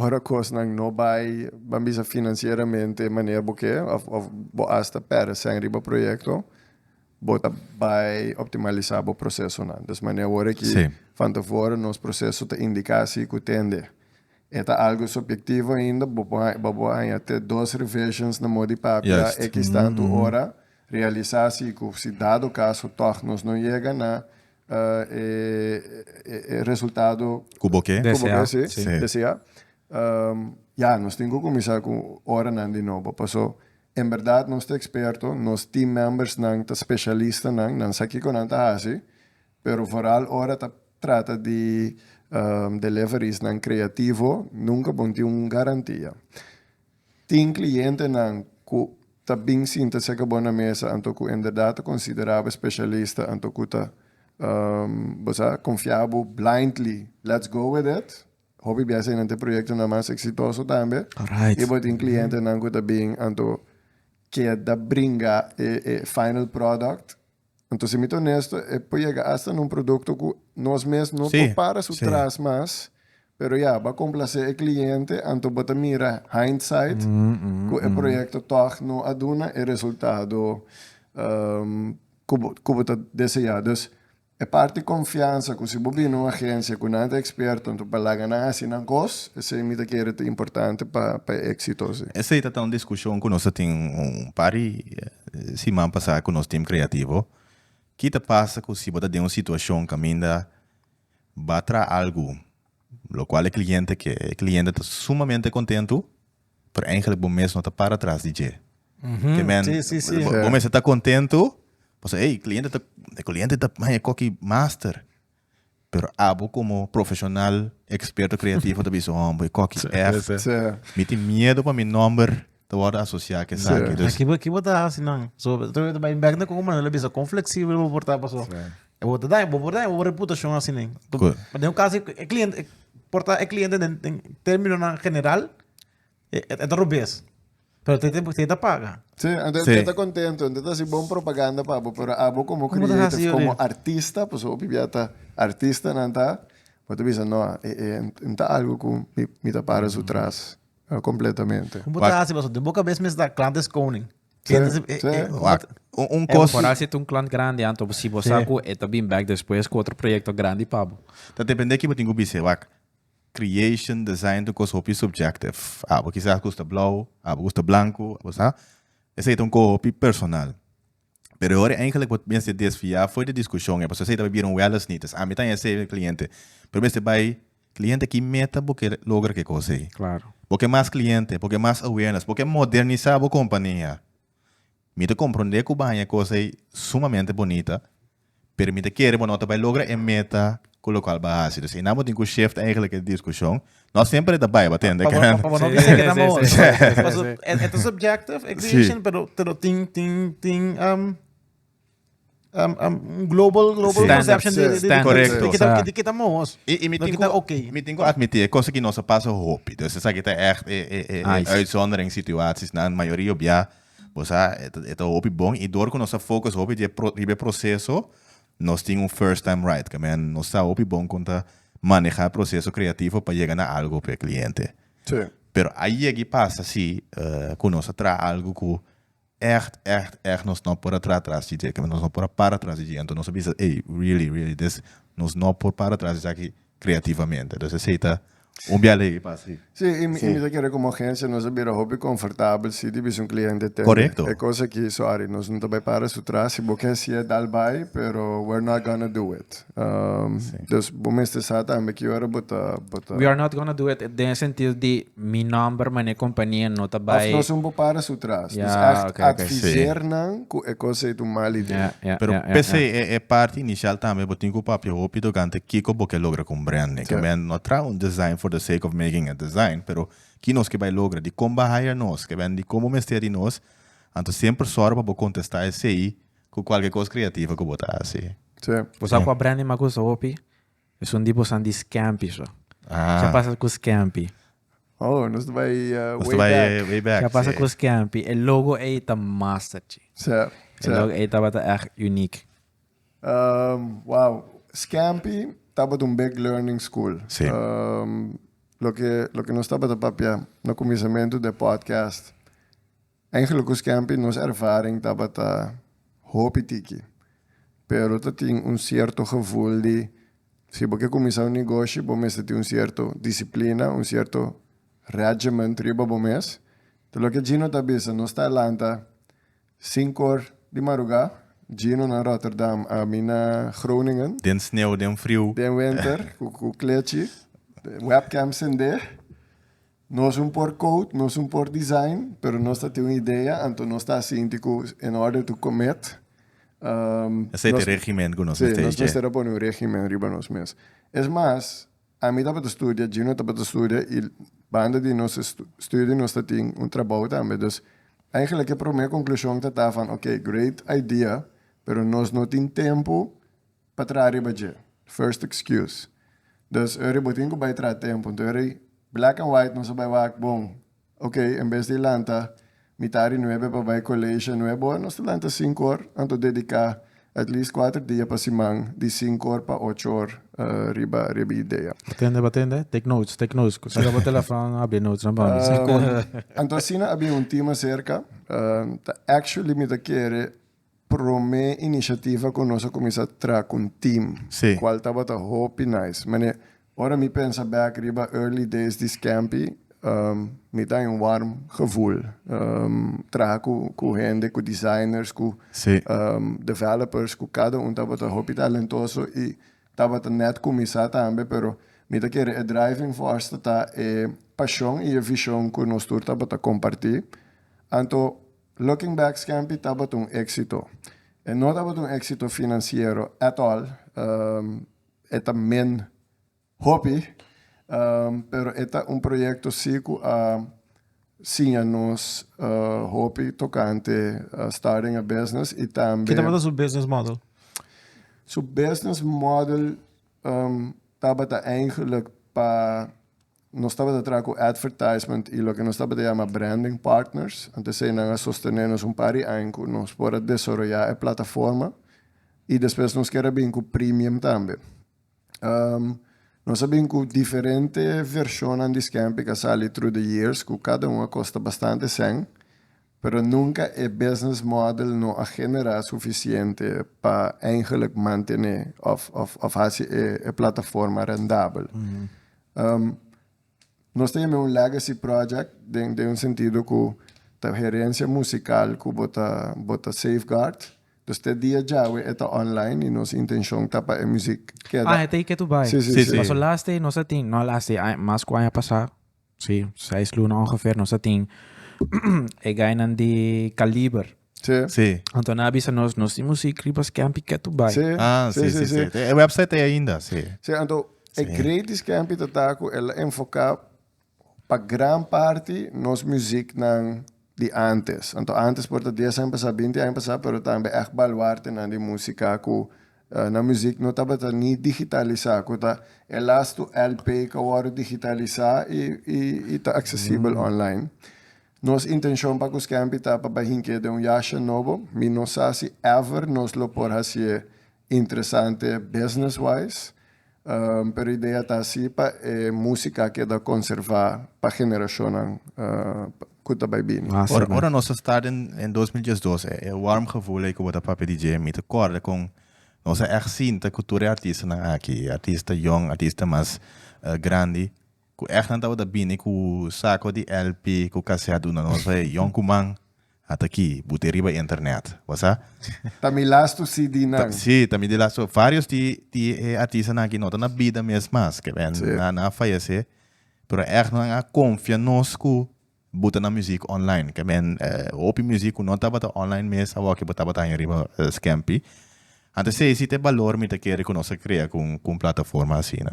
Ora kosnan no bai, ban bisa financieramente manera bo ke of of bo hasta perde sèn riba proyekto, bo ta bai optimalisa bo prosesonan. Des manera worde ki Sí. van tevore nos proseso ta indiká si ku tende. E ta algo subyektivo ainda, bo por haña, bo por haña te dos revisions na modi papia Juist. ekistantu ora, realisá si ku si dado kaso tòg nos no yega na e resultado cu bo ke desea. Ya, nos tin cu cuminsa cu oranan di nobo, paso en berdad nos ta experto, nos team membersnan ta specialistanan, nan sa kico nan ta haci, pero vooral ora ta trata di deliverysnan creativo, nunca bo tin un garantia. Tin klientenan ku ta bin sinta serka bo na mesa anto ku enderdat ta konsiderá bo spesialista anto ku ta bo sa konfiá bo blindly. Let's go with it. Hopi bies einan ta e proyektonan mas eksitoso tambe i bo tin klientenan ku ta bin anto keda bringa e final product Anto si mi ta onesto e por yega hasta na un producto cu nos mes no por para su tras mas, pero ya bo a complace e cliente anto bo ta mira hindsight cu e proyecto tog no a duna e resultado cu bo ta desea. Dus e parti confiansa cu si bo bini un agencia cu nan ta experto anto pa laga nan haci nan cos esey mi ta kere ta importante pa e exito. Esey ta ta un discusion cu nos a tin un par di siman pasá ku nos tim kreativo, Ki ta pasa ku si bo ta den un situashon kaminda bo a traha algu lokual e kliente ke e kliente ta sumamente kontentu, pero eigelik bo mes no ta para tras di dje? Ke men, Sí, sí, sí. bo mester ta kontentu pasobra ey, e kliente ta, e kliente ta haña koki master. Pero abo como profesional experto creativo ta bisa hom boy koki echt. Mi tin miedo pa mi nomber ta wordo asocia cu esaki. Dus. Kibo kibo ta haci nan? So ta ta bai bek na cu como nan lo bisa con flexible bo por ta paso. E bo ta daña bo por daña bo reputacion así nen. Cu. Den un caso e cliente por ta e cliente den den terminonan general E, e, e ta robes. Pero te, te, te ta paga. Sí, ante Sí. te ta contento, ante ta si bon propaganda pa abo, pero abo como Como te hace creative, yo como de- artista, pues hopi bia ta artista nan ta, bo te bisa no, e, e, en ta algo cu mi, mi ta para su tras, ah, completamente. Como Wak. te hace, paso, de boca bes mes da klante is koning. Sí, Klante is- e, sí. e, como Wak. te- Un, un Eh, cos. Vooral si tu un klant grandi anto, si bo Sí. sa ku e ta bin back despues ku otro proyekto grandi pa bo. Ta depende kibo tin ku bise, wak. Creation, design ta un kos hopi subjective. Abo kisas gusta blou, abo gusta blanku, abo sa. Esei ta un kos hopi personal. Pero e ora eigenlik bo mester desvia for di diskushon ei, pasobra esei ta bai bira un wellness need. Es ami ta haya esei, mi kliente. Pero bo mester bai, Kliente, ki meta bo ke logra ke kos ei? Bo ke mas kliente? Bo ke mas awareness? Bo ke modernisá bo kompania? Mi ta komprondé ku baña e kos ei sumamente bonita, pero mi ta kere bo no ta bai logra e meta ku lokual bo a hasi. Dus einan bo tin ku shift eigentlik e diskushon. No semper ta bai bo tende. Pa bo pa bo no bisa keda mo pasobra e ta subjective e creation pero tin tin tin. um, um, un global, global Sí. conception de, de, de, Standard. Correcto, de, kita- sa. de kita mohos. I, i mi No tin kita ku- oké. mi tin ku admití e cosa ki nos a pasa hopi. Dus esa ki ta echt e, e, e, Ai, e sí. uitzondering situaties. Na mayoría op ya, pues a, e ta- e ta hopi bon. I door ku nos a focus hopi di e pro- riba e proceso, nos tin un first time right. Ke men, nos sa hopi bon kon ta maneha proceso creativo pa yega na algo p'e cliente. Sí. Pero a yegi pasa si eh, ku nos a traha algo ku Ègt, ègt, ègt nos no por a traha tras di dje, nos no por a para tras di dje. Anto nos a bisa, ey, really, really this, nos no por para tras di esaki kreativamente. Entonces esei ta un biaha lei pa hasi. Sí, i mi ta kere komo agensia nos a bira hopi konfortabel si di bisa un kliente tende. Korekto. E kos aki, sorry, nos no ta bai para su tras. Si bo ke hasia, dal bai, pero we're not gonna do it. Dus bo mester sa tambe ki ora bo ta, bo ta. We are not gonna do it den e sentido di mi nomber mané e kompania no ta bai. Of no son bo para su tras. Ya, oke, oke. Dus èkt adviseer nan ku e kos ei ta un mal idee. Ya, ya, ya. Pero p'esei e e parti inicial tambe bo tin ku papia hopi togante kiko bo ke logra ku un brand ne. Ke men no traha un design for the sake of making a design pero ki nos ke bai logra, di kon ba hire nos, ke men di kon bo mester di nos, anto semper sòru pa bo kontestá esei Cu cualke cos creativo cu bo ta haci. Sí. Bo sa cu a Brandi ma cusa hopi? Esun di bosan di Scampy so. Sha pasa cu Scampy. Oh, nos ta bay way back. Nos ta bay way back, sí. Sha pasa cu Scampy. E logo ey ta master, chi. Sí, sí. E logo ey tabata echt unique. Wow. Scampy tabata un big learning school. Sí. Loke, loke nos tabata papia na cuminsamentu den podcast. Angelo cu Scampi nos ervaring tabata hopi tiki, pero ta tin un cierto gevoel di si bo ke cuminsa un negoshi bo mester tin un cierto disciplina, un cierto regiment riba bo mes. Ta loke Gino ta bisa, nos ta lanta sinku or di maruga, Gino na Rotterdam, ami na Groningen. Den sneu, den friu. Den wenter cu clechi, webcam sende. Nos un por code, nos un por design, pero nos ta tin un idea, anto nos ta sinti cu in order to commit, um, Esey ta e regimen cu nos mester dje. Sí, nos mester a pone un regimen riba nos mes. Es mas, ami tabata studia, Gino tabata studia y banda di nos study nos ta tin un trabou tambe, dus eigenlijk e prome conclusion ta ta van, ok, great idea, pero nos no tin tempo, pa traha riba dje, first excuse. Dus eri bo tin ku bai traha tempu, nto eri black and white nos a bai wak bon, ok, en bes di lanta mitad di nuebe pa bai college a nuebe or, nos ta lanta sinku or, anto dedica at least kuater dia pa siman di sinku or pa ocho or riba e idea. Batende, batende, take notes, take notes, ku sera bo telefòn a habri notes nan pa mi. Sekundo. Anto asina a bin un team aserka, ta actually mi ta kere Prome iniciativa cu nos a cuminsa tra cu un team, cual tabata hopi nice. Mane, ora mi pensa back riba early days di Scampi, mi ta in warm gevoel. Traha cu hende, cu designers, cu developers, cu cada un tabata hopi talentoso y tabata net cuminsa tambe, pero mi ta kere e driving force ta ta e pasion y e vision cu nos tur tabata comparti. Anto Looking Back Scampy tabata un éksito. E no tabata un éksito finansiero at all, e ta men hopi, pero e ta un proyekto sí ku a siña nos hopi tokante starting a business i tambe. Ke tabata su business model? Su business model tabata eigenlijk pa Nos tabata traha cu advertisement y loke nos tabata yama branding partners. Anto esey nan a sostene nos un par di aña cu nos por a desoroya e plataforma y despues nos kier a bini cu premium tambe. Nos a bini cu diferente versionnan di Scampic a sali through the years cu cada un a costa bastante cen, Pero nunca e business model no a genera suficiente pa eigenlijk mantene of of haci e plataforma rendabel. Nos ta yam'e un legacy project den den un sentido cu ta herencia musical cu bo ta bo ta safeguard. Dus te dia djawe e ta online y nos intencion ta pa e muziek keda. Ah e ta y ke tu bay. Sí sí sí. Paso last day nos a tin, no last day, mas cu aña pasa. Sí, seis luna ongeveer nos a tin e gainan di Kaliber. Sí. Sí. Anto nan a bisa nos, nos tin muziek riba Skempi ke tu bai. Sí. Ah, sí, sí, sí. E website e ainda, sí. Sí, anto e Sí. great di Skempi ta ta ku el a enfoká pa gran parti nos muzieknan di antes. Anto antes por ta dies aña pasá, binti aña pasá, pero tambe ègt baluartenan di músika ku na muzik no tabata ni digitalisá, ku ta e lastu LP ku a wòrdu digitalisá i i ta aksesibel online. Nos intenshon pa Kuskèmpi ta pa bahin ke den un yasha nobo. Mi no sa si ever nos lo por hasié interesante business wise. Pero idea ta si pa e musika a keda konservá pa generashonnan ku ta bai bini. Ora nos a sta den dos mil diesdos, e warm gevoel ei ku bo ta papia DJ, mi ta kòrda kon nos a ègt sinta ku tur e artistanan aki, e artista yòn, artista mas grandi, ku ègt nan tabata bini ku sako di lp ku kasèt unda nos bai yòn kuman, Ata ki, bu te riba internet. Bo sa? Ta mi lastu CDnan. Ta, si, ta mi di lastu. Varios di, di e artistanan aki no ta na bida mes mas. Ke ben, sí. nan, nan a fayese. Pero èg nan a konfia nos ku bo ta na muzik online. Ke men, eh, hopi muzik ku no tabata online mes awòkkie bo tabata haña riba Scampi. Anto esei si ta e balor mi ta kere ku nos a krea ku un, ku un plataforma asina.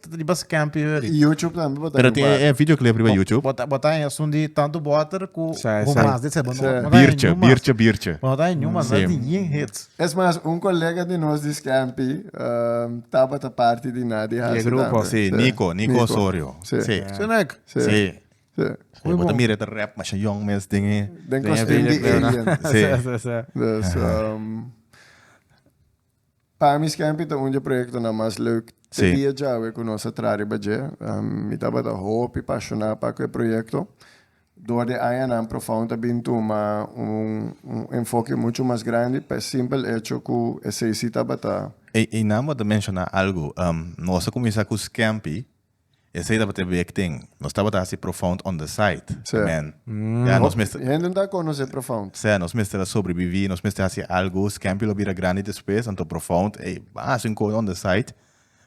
Tata di bas camp i ori. YouTube tambe por Pero tin e videoclip riba YouTube. Bota bota en asun di tanto water ku Sa, ku sa. mas de se bono. Sa. Biertje, biertje, biertje. Bono ta en Newman, Sim. di yin hits. Es mas, un kolega di nos di Scampi ehm, tabata parti di Nadi Di e Hasi grupo. tambe. Si, Nico, Nico Osorio. Si. Si. Ja. Sinek. Si. Si. Si. Goeie Bota boel. mira ta rap masha young mes den e. Den Den e kostum di videoclip, no? alien. Si. Sa, sa, sa. Dus ehm, Pa mi Scampy ta un dje proyektonan mas leuk te dia djawe ku nos a traha riba dje. Mi tabata hopi pashoná pa ku e proyekto. Dor di añanan Profound a bin tuma un enfoke muchu mas grandi pa e simpel echo ku esei si tabata. Einan bo ta menshoná algu. Nos a kuminsá ku Scampy Esey tabata e week tin. Nos tabata hasi Profound on the side. Seh. Amen. Ya, nos mester. Hopi hende no ta conoce Profound. Seh, nos mester a sobrevivi, nos mester hasi algo. Scampy lo bira grandi despues, anto Profound, ey, bas un cos on the side.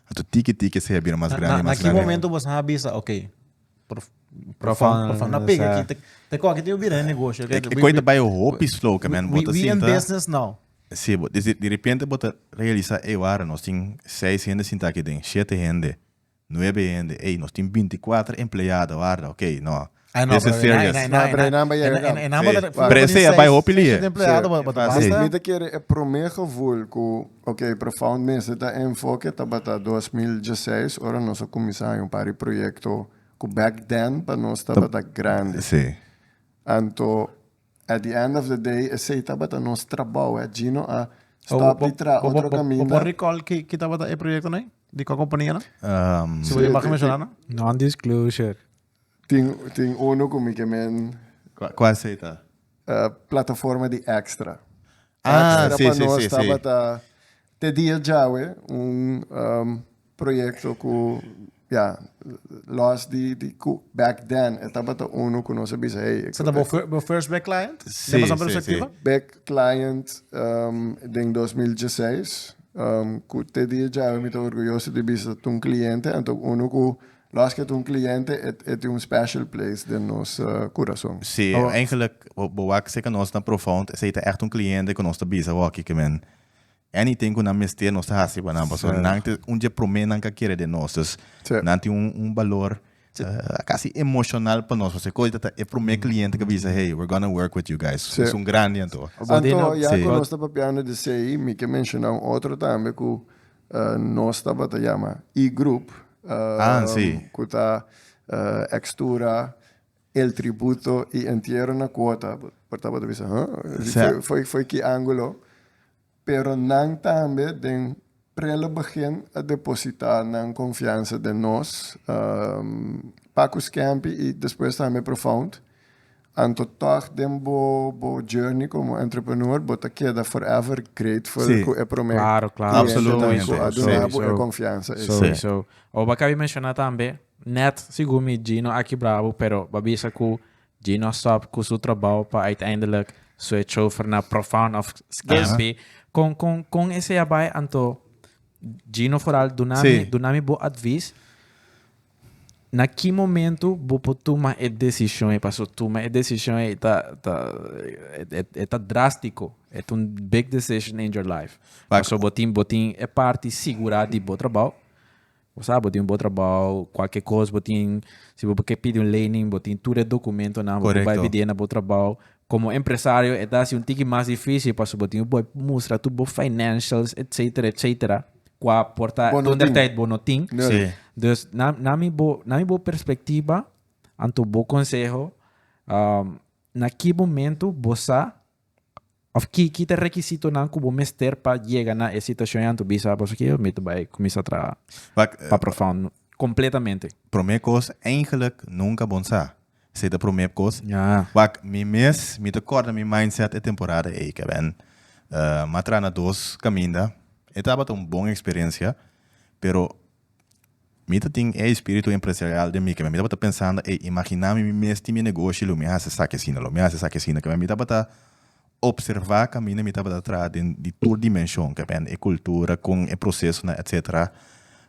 Anto tiki tiki esey a bira mas grandi y mas grandi. Na ki momento boso a bisa, ok, Prof. Profound, Profound na pega aki, te te koki tin bo bira e negoshi. E koi ta bai hopi slow, ke men bo ta sinta. We in business now. Si, bo, di di di repente bo ta realisa, ey wara, nos tin seis hende sinta aki den, shete hende. Nuebe hende, ey, nos tin binti kuater empleado harda, ok, no. Ay, no, This is pero e nan- e serious. nan- e No, nan- pero e nan bai yega e nan- gamba. e nan bai- Sí. bai- Pero ese bai seis- hopi seis lie. empleado, ba- ba- Fácil. basta. Mi ta kere e promé gevoel ku, ok, Profound mester ta enfoke tabata dos mil diesseis, ora nos a kuminsá haña un par di proyekto ku back then pa nos tabata grandi. Sí. Anto At the end of the day esey tabata nos trabao eh. Gino a stop di tra otro Bo caminda. recall ki ki tabata e proyectonan ey? Di cua companianan? Um, Si bo di maga mencionanan? Non-disclosure. Tin tin uno cu mi que men Cua cua esey ta? eh, plataforma di extra. Ah, Extra si, pa si, nos si, si. tabata te dia djawe un um, proyekto ku ya lòs di di ku back then e tabata unu ku nos a bisa hey Sa ta bo bo first back client? Si Den pasobra si si. perspektiva? back client den dos mil dieseis ku te di e djawe mi ta orguyoso di bisa ta un kliente anto unu ku lòs ke ta un kliente e e tin un special place den nos kurason. Si Awa. eigenlik bo bo wak seka nos na profound esei ta ègt un kliente ku nos ta bisa wak aki ke men anything cu nan mester nos ta haci pa nan pasobra nan ta un dje prome nan ca kere den nos dus nan tin un balor casi emocional pa nos pasobra e cosa ta e prome cliente ca bisa hey we're gonna work with you guys esun grandi anto anto ya cu nos ta papiando di esey mi ke menciona un otro tambe cu nos tabata yama E-group cu ta X-tura El tributo y entiero na cuota. Por tabata bisa, huh? Exact. Foi, foi ki angulo. Pero nan tambe den prele begin a deposita nan confiansa den nos. Um, Paco Scampi y despues tambe Profound. Anto tog den bo, bo journey como entrepreneur bo ta keda forever grateful Sí. cu e prome Claro, claro. clientenan cu Absolutamente. a duna bo e Sowieso. confiansa ey. Sowieso. Oba kabi menciona tambe, Net sigur mi Gino aki brabo pero ba bisa ku Gino stop ku su trabou pa uiteindelik su e chofer na Profound of Scampi kon kon kon esei a bai anto Gino foral duna mi duna mi bo advis na ki momento bo por tuma e desishon ei paso tuma e desishon ei ta ta e ta drastiko e ta un big decision in your life paso bo tin bo tin e parti sigura di bo trabou Bo sa bo tin un bon trabao, kualke kos bo tin, si bo ke pidi un lening bo tin tur e dokumentonan, bo por bai pidié na bo trabao. Komo empresario e ta hasi un tiki mas difísil pasobra bo tin por mustra tur bo financials etcétera etcétera kua por ta tonderdeit bo no tin. Dus na na mi bo na mi bo perspectiva anto bo conseho na ki momento bo sa Of ki ki ta rekisitonan ku bo mester pa yega na e situashon anto bisa boso ke mi ta bai kuminsá traha Wak, eh, pa Profound kompletamente? Promé kos, eigenlik nunka bon sa. Esei ta promé kos. Ya. Wak, mi mes mi ta kòrda mi mindset e temporada ei, kèbèn. M'a traha na dos kaminda. E tabata un bon eksperensia, pero Mi ta tin e espiritu empresarial den mi keme mi tabata pensando ey imagina mi mi mes tin mi negoshi lo mi hasi esaki asina lo mi hasi esaki asina keme mi tabata observa kaminda mi tabata traha den di tur dimenshon keme e kultura kon e prosesonan etsetera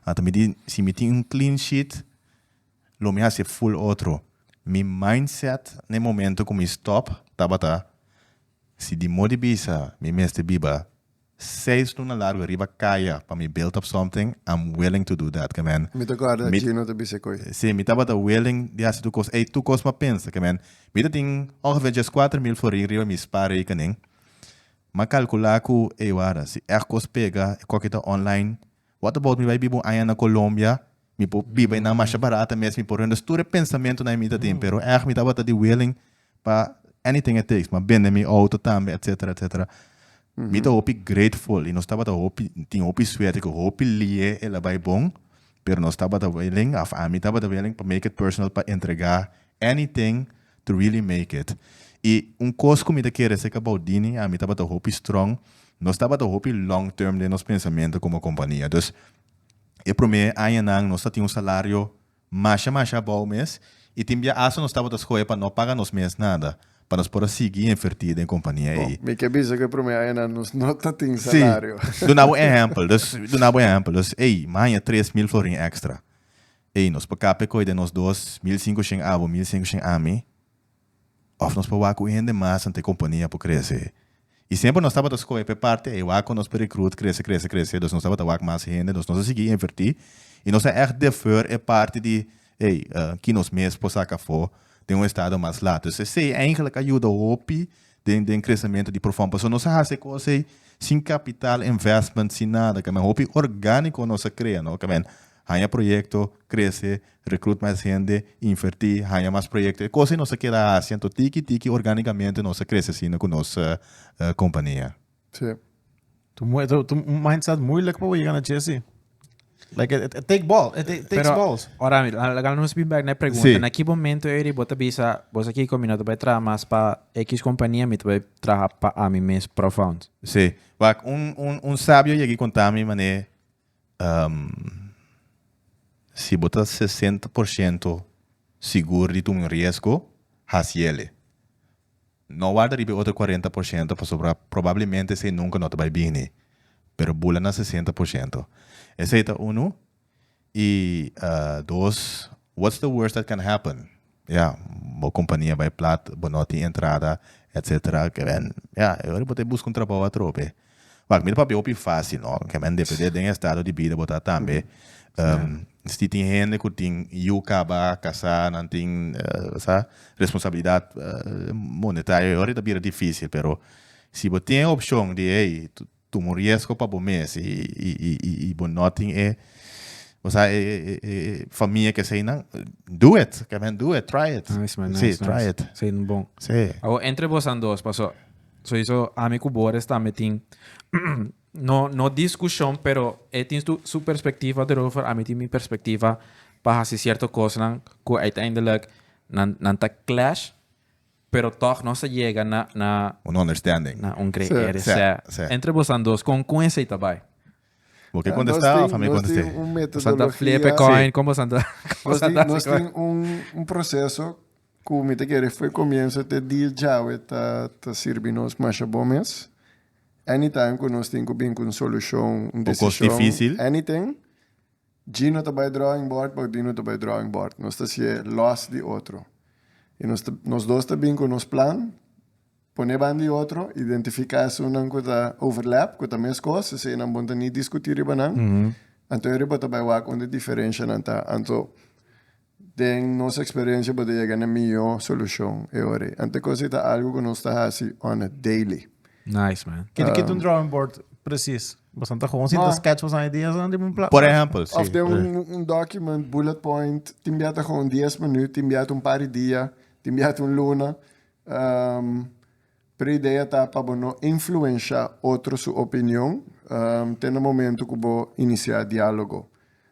anto mi di si mi tin un klin shit lo mi hasi ful otro mi mindset na e momento ku mi stòp tabata si di modo di bisa mi mester biba. Seis luna largo riba kaya pa mi build up something, I'm willing to do that, kemen. Mi ta guarda Mi- Gino ta bisa koe. Sí, mi tabata willing di hasi tur kos. Ei tur kos pa pensa, kemen. Mi ta tin ongeveer djes kuater mil forí riba mi spaarrekening. M'a kalkulá ku, ei wara, si ègt kos pega, e koki ta online. What about mi bai biba un aña na Colombia, Mi por biba enan masha barata mes, mi por rende tur e pensamentunan mi ta tin, pero èg mi tabata di willing pa anything it takes, pa bende mi outo tambe, etcetera, etcetera. Mi ta hopi grateful i nos tabata hopi, tin hopi suerte ku hopi liye e la bai bon, pero nos tabata willing, òf ami tabata willing pa make it personal pa entregá anything to really make it. I un kos ku mi ta kere se kabou Dini, ami tabata hopi strong, nos tabata hopi long term den nos pensamentu komo kompania. Dus E promé añanan nos ta tin un salario masha masha abou mes i tin bia asta nos tabata skohe pa no paga nos mes nada pa nos por a sigui invertí den kompania ei. Mi ke bisa ku e promé añanan nos no ta tin salario. Sí. Duna bo un ehèmpel. Dus, duna bo un ehèmpel. Dus, ey, mi haña tres mil florin èkstra. Ey, nos por kap'e kohe den nos dos, mil sinku shen abo, mil sinku shen ami. Òf nos por wak ku un hende mas anto e kompania por krese. I semper nos tabata skohe p'e parti ei wak ku nos perekrut krese, krese, krese, dus nos tabata wak mas hende, dus nos a sigui invertí i nos a ègt defer e parti di ei ki nos mes por saka afó den un estado mas lat. Dus esei eigentlik a yuda hopi den den kresementu di Profon. Pasobra nos a hasi e kos ei sin kapital invèstment, sin nada. Kòmèn hopi orgániko nos a krea, no? Kòmèn haña proyekto, krese, Recruit mas hende, inverti, haña mas proyecto. E cos ei nos a keda haci, anto tiki tiki organicamente nos a crece asina cu nos compania. Si. Tu mindset moeilijk pa bo yega na Jesse. Like it take ball, it takes Pero, balls. Ora mi, laga no spin back na e pregunta. Sí. Na ki momento eri bo ta bisa, bo sa Kiko, mi no ta bay traha mas pa X compania, mi ta bay traha pa ami mes profound. Sí. Wak, un, un, un sabio yegi contami mané, Si bo ta sesenta por shento sigur di tuma un riesgo, hasi el'e. No warda riba e otro kuarenta por shento pasobra probablemente esei nunka no ta bai bini, pero bula na sesenta por shento. Esei ta unu, i dos, what's the worst that can happen? Ya, bo kompania bai plat, bo no tin entrada, etc. Kemen, ya, e ora bo ta buska un trabou atrobe. Wak, mira papia hopi fásil, no? Kemen depende den e estado di bida bo ta tambe. Misti tin hende ku tin yu kaba kasá, nan tin, bo sa, responsabilidat monetario. E ora ta bira difísil, pero si bo tin e opshon di, hey, Tuma un riesgo pa bo mes y bo no tin e famia ke esey nan, do it, ke men do it, try it. Nice man, nice, nice. Try it. Esey nan bon. Sí. Awor entre bosan dos paso, sowieso ami ku Boris es tambe tin no no diskushon pero e tin su perspektiva derover, ami tin mi perspektiva pa hasi sierto kosnan ku uiteindelijk nan ta clash. Pero tog nos a yega na na. Un understanding. Na un gre area. Sè. Sè. Sè. Entre bosan dos kon kon esei ta bai? Bo ke kontestá òf ami kontest'é? Nos tin un metodologia. Bosan ta flipe koin kon bosan ta bosan ta hasi koin? Nos tin un un proseso ku mi ta kere fo'i komienso te dia djawe ta ta sirbi nos masha bon mes. Anytime ku nos tin ku bin ku un solushon, un desishon. Un kos difísil. Anything. Gino ta bai drawing board paku Dino ta bai drawing board. Nos ta si'e lòs di otro. I nos ta, nos dos ta bin ku nos plan, pon'é ban di otro, identifiká esunnan ku ta overlap, ku ta mes kos, esei nan bon ta ni diskutí riba nan. Anto e riba ta bai wak unda diferenshanan ta. Anto, Den nos experiencia bo ta yega na mihó solucion e hora ei. Ante cos ei ta algo cu nos ta haci on a daily. Nice man. Kende kende un drawing board precies? Bosan ta gewoon sinta sketch bosan ideas nan riba un plaat? Por ehempel, si. Of den un document, bullet point, tin bia ta gewoon dies minuut, tin bia ta un par di dia, tin bia ta un luna. Pero idea ta pa bo no influensha otro su opinion te na momento cu bo inicia dialogo.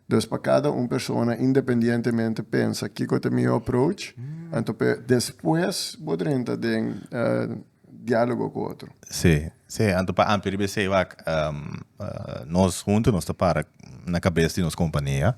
Dos pa cada un persona independientemente pensa kico ta miho approach, anto pe despues bo drenta den dialogo cu otro. Sí, sí, anto pa ampi riba esey wak nos hunto nos ta para na cabes di nos compania.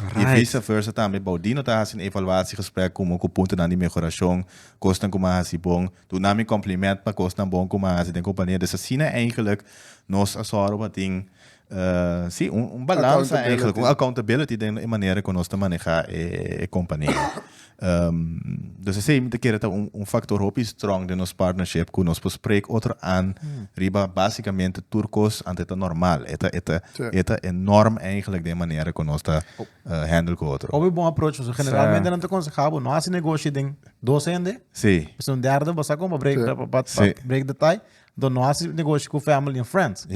Right. Y vice versa tambe, bou di no ta hasi un evaluatie gesprek cu mo cu puntonan di mehoracion, cosnan cu mi a hasi bon, duna mi compliment pa cosnan bon cu mi a hasi den compania. Dus asina eigenlijk nos a zorgo pa tin, eh, si, un, un balansa, eigenlijk, un accountability den e manera cu nos ta maneha e, e compania. Nos esei mi ta kere ta un un faktor hopi strong den nos partnership ku nos por sprek otro an riba basikamente tur kos anto e ta normal. E ta e ta e ta e norm eigentlik den e manera ku nos ta hendel ku otro. Hopi bon aproach pasobra generalmente nan ta konsehá bo no hasi negoshi den dos hende, si un derde bo sa kon pa break pa pa break de tai, enton no hasi negoshi ku family en friends.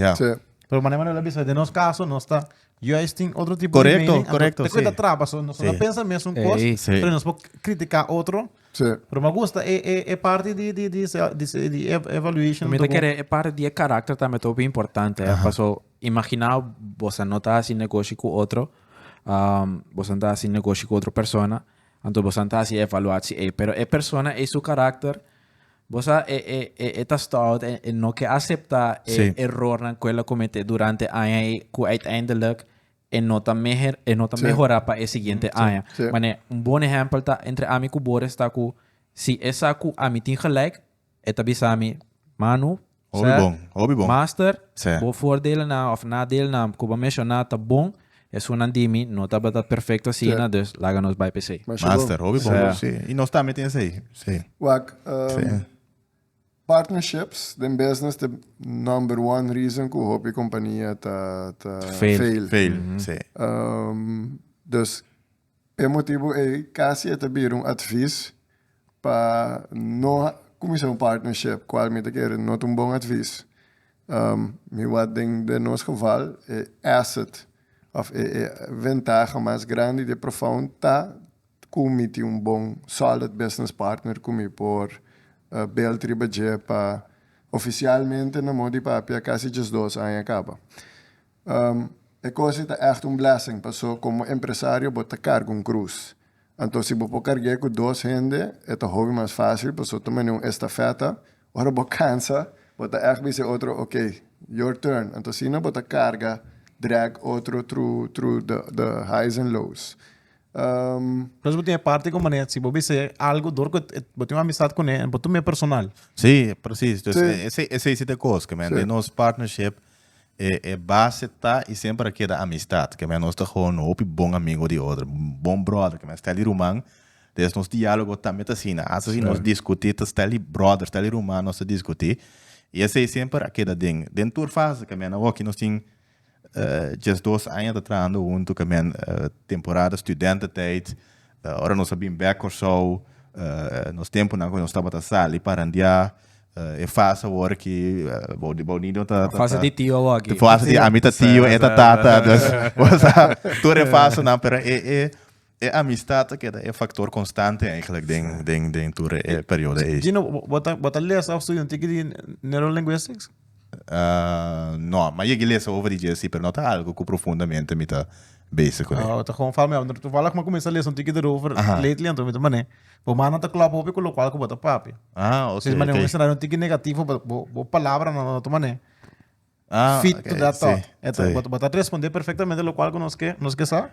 Pero manera nan a bisa den nos kaso nos ta. Juist tin otro tipo Correcto, de mening. correcto, Te sí. cuenta traba, so nos Sí. no pensa mes un Ey. cos, Sí. pero nos po criticar otro. Sí. Pero me gusta e, e, e parte di, di, di, se- di, se- di ev- evaluation. Mi te do- kere e parte di e karakter tambe to bien importante. eh. Paso, imagina vos no ta hasi negoshi ku otro, um, vos no ta hasi negoshi ku otro persona, anto vos no ta hasi evaluatsi ei. Pero e persona ei su karakter Bo sa e e e e ta stout en en no ke asepta e Sí. errornan ku el a kometé durante aña ei ku uiteindelijk e no ta meher e no ta Sí. mehorá pa e siguiente Sí. aña. Sí. Manera un bon ehèmpel ta entre ami ku Boris ta ku si e sa ku ami tin gelijk e ta bisa mi, Manu, Hopi bon, hopi bon. Master, bo voordelennan of nadelennan ku bo menshoná ta bon, esunnan di mi no tabata perfekto asina, dus laga nos bai p'esei. Master, hopi bon. Sí, i nos tambe tin esei. Sí. Wak, partnerships den business ta number one reason ku hopi kompania ta fail. Fail, sí. Dus, P'e motibu ei, kasi e ta bira un atvis pa no kuminsá un partnership, kual mi ta kere no ta un bon atvis. Mi wak den den nos geval e asset òf e e ventaha mas grandi di Profound ta ku mi tin un bon sòlid business partner ku mi por build riba dje pa ofisialmente na mo di papia kasi djesdos aña kaba. E cosa ei ta ègt un blessing, paso komo empresario bo ta karga un krus. Anto si bo por karg'é ku dos hende, e ta hopi mas fásil, paso ta manera un estafeta. Ora bo kansa, bo ta ègt bisa e otro, Okey, your turn. Anto asina bo ta karga, drag, otro thru, thru the highs and lows. Nos bo tin e parti ku Manet, si bo bis'é algu dor ku e, bo tin un amistad kuné, bo tuma e personal. Sí, presis. Esei sí ta e kos, kende nos partnership. E e base ta i semper a keda amistad, keme nos ta hono hopi bon amigo di otro, bon brother, keme stèl di ruman, des nos dialogo tambe ta asina, hasta si nos diskutí ta stèl di brother, stèl di ruman nos ta diskutí, i esei semper a keda den den tur fase, keme nan hoki nos tin djesdos aña ta trahando huntu, keme temporada studententijd. Ora nos a bin bek Kòrsou, nos tempunan ku nos tabata sali pa randiá, e fas awor ki bou di bou Niño ta, ta, Fas di tio awor aki. Fas di ami ta tio, e ta tata, dus bo sa tur e fasnan, pero e, e, e amistat ta keda e faktor konstante eigentlik den, den, den tur e periodo ei. Gino, bo, bo ta, bo ta lesa òf studia un tiki di Neurolingwistics? No, mi a yega e lesa ova di dje si, pero no ta algu ku profundamente mi ta bese ku e. Ta hon fala mi, tovallig mi a kuminsá lesa un tiki derover lately, anto mi ta manera bo man no ta klòp hopi ku lokual ku bo ta papia. Si bo manera un escenario un tiki negativo, bo palabranan no ta manera fit to that thought. Bo ta respondé perfectamente lokual ku nos ke sa.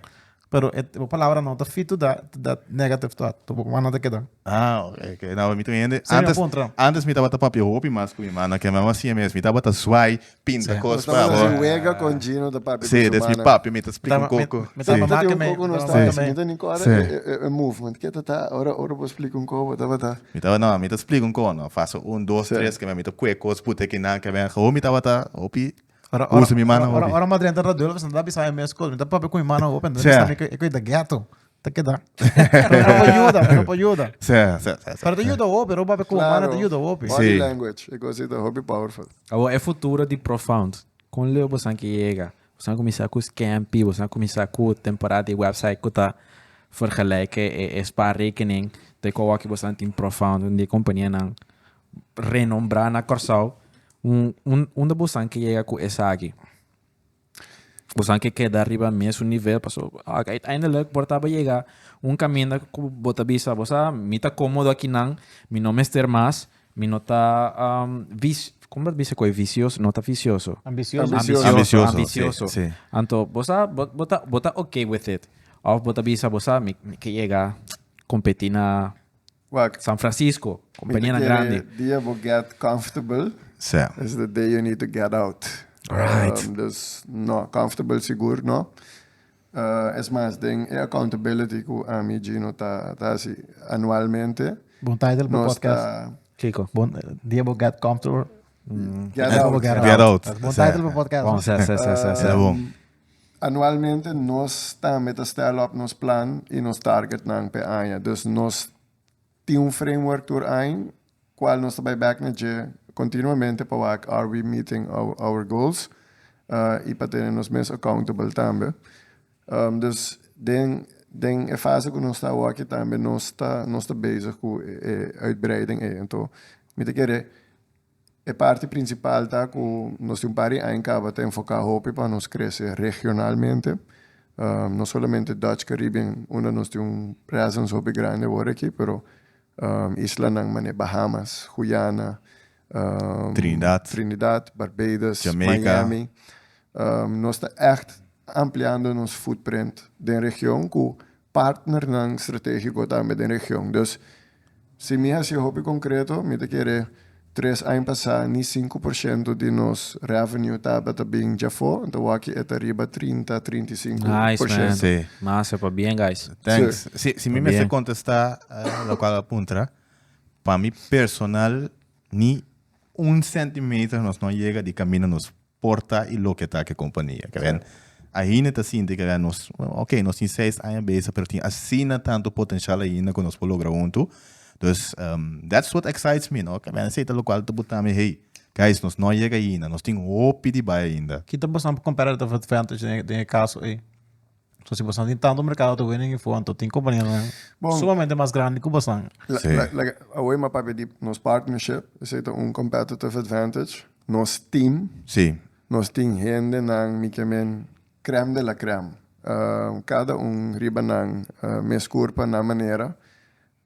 Pero e bo palabra no ta fito da da negative thought. Tu bo mano te keda. Ah, ok, ok. Nou we mi tu hende. Semi Antes, apuntra. antes mi tabata papia hopi mas ku mi mano, ke mama si mes. Mi tabata swai, pinta Sí. kos pa Tabata bo. si wega con Gino de papi. Sí, des mi papi, mi ta explica un Tama- coco. me- me Sí. tama- Tabata di un Make me- coco no tama- start. Sí. Mi ta ni ko ora Sí. e- e- e movement. Ke ta ta ora ora bo explica un coco tabata. Mi taba, no, mi ta explica un cono. Fase un, dos, Sí. tres, ke mi ta kue kos pute kinan, ke mi, ho mi tabata hopi. Ora, ora, Usa mi mano ora, hopi. ora madre enta raduel ka santa bisa mes kos. Mi ta papi ku mi mano open. Ta Sea. bisa mi ke ke da ghetto. Ta keda. Pero no pa yuda, pero no pa yuda. Sê, sê, sê, sê. Pero ta yuda opi, ro papi ku mi mano ta yuda opi. Body Sí. language. E cosita hopi powerful. Awor e futuro di Profound. Kon leu bosan ke yega? Bosan a kuminsá ku Scampi, bosan a kuminsá ku temporada di website ku ta fergeleke e e spaarrekening te ku awor ki bosan tin Profound, un di e kompanianan renombrá na Kòrsou. Un, un, unda bosan ke yega ku esaki? Bosan ke keda riba mes su nivel, paso uiteindelik por taba yega un kaminda ku bo ta bisa, bo sa, mi ta komodo akinan, mi no mester mas, mi no ta um, vis, komo bo ta bisa ku e visioso? No ta visioso. Ambicioso. Ambicioso. Ambicioso, ambicioso. sí, sí. Anto, bo sa, bo, bo ta, bo ta okay with it. Of bo ta bisa, bo sa, mi, mi ke yega kompetí na Wak. San Francisco, kompanianan grandi. Di dia bo gèt comfortable. Sè. Is the day you need to get out. Right. Dus, no, comfortable sigur no. Es mas, den e accountability ku ami, Gino, ta hasi anualmente. Bon title pa podcast. Kiko? Bon dia bo gèt comfortable. Get out. Get out. Bon title pa podcast. Bon, sè, sè, sè, sè, sè. Tabon. Anualmente nos tambe ta stèl òp nos plan i nos tárgetnan p'e aña. Dus nos tin un framework tur ain kual nos ta bai bèk na dje kontinuamente pa wak are we meeting our goals i pa tene nos mes accountable tambe. Dus den den e fase ku nos ta awor aki tambe nos ta nos ta bezig ku e uitbreiding ei. Anto mi ta kere E parti principal ta cu nos tin un par di aña caba ta enfoca hopi pa nos crece regionalmente, no solamente Dutch Caribbean unda nos tin un presence hopi grandi awor aki pero islanan mane Bahamas, Guyana, Trinidad, Barbados, Miami, nos ta echt ampliando nos footprint den region cu partnernan strategico tambe den region. Dus si mi haci hopi concreto mi ta kere tres aña pasa ni cinco por ciento di nos revenue tabata bin djafo enta waki e ta riba trinta, trinta y cinco por ciento. Nice man. Masa pa bien guys. Thanks. Si si mi mester contesta locual a puntra pa mi personal ni un centimeter nos no yega di camina nos. por ta y loke ta ke kompania. Keren, ainda ta sinti keren nos, oke, nos tin seis aña beza, pero tin asina tantu potenshal ainda ku nos por logra huntu. Dus, that's what excites me, no? Keren, esei ta lokual ta buta mi, hey, guys, nos no a yega ainda, nos tin hopi di bai ainda. Ki ta pasando pa kompara di ta fentas den e kaso ei? So si bastan tin tanto mercado ta winning info anto tin companianan Bon. sumamente mas grandi cu bastan. La- Sí. la- like, awor mi a papia di nos partnership, esei ta un competitive advantage. Nos team, Sí. nos tin hendenan, mi ke men, crème de la crème. Um, cada un riba nan mes curpa, nan manera.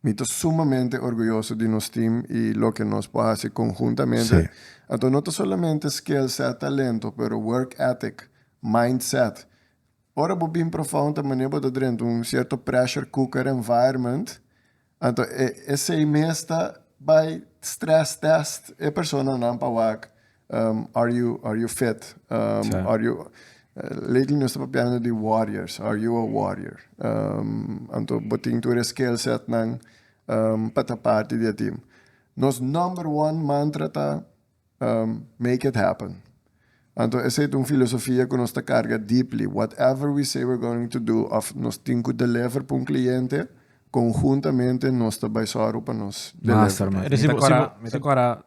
Mi ta sumamente orguyoso di nos team y loke nos por haci conjuntamente. Sí. Anto no ta solamente skill set, talento, pero work ethic, mindset, Ora bo bin profa un ta mane bo ta drenta un cierto pressure cooker environment, anto e esey mes ta bay stress test e persona nan pa wak um are you are you fit um Sa. are you lately nos ta papiando di warriors are you a warrior um anto bo tin tur e skill set nan um pa ta parti di e team. Nos number one mantra ta. Make it happen. Anto esei ta un filosofia ku nos ta karga deeply, whatever we say we're going to do òf nos tin ku deliver pa un kliente, konhuntamente nos ta bai sòru pa nos deliver pa e. Mi ta kòrda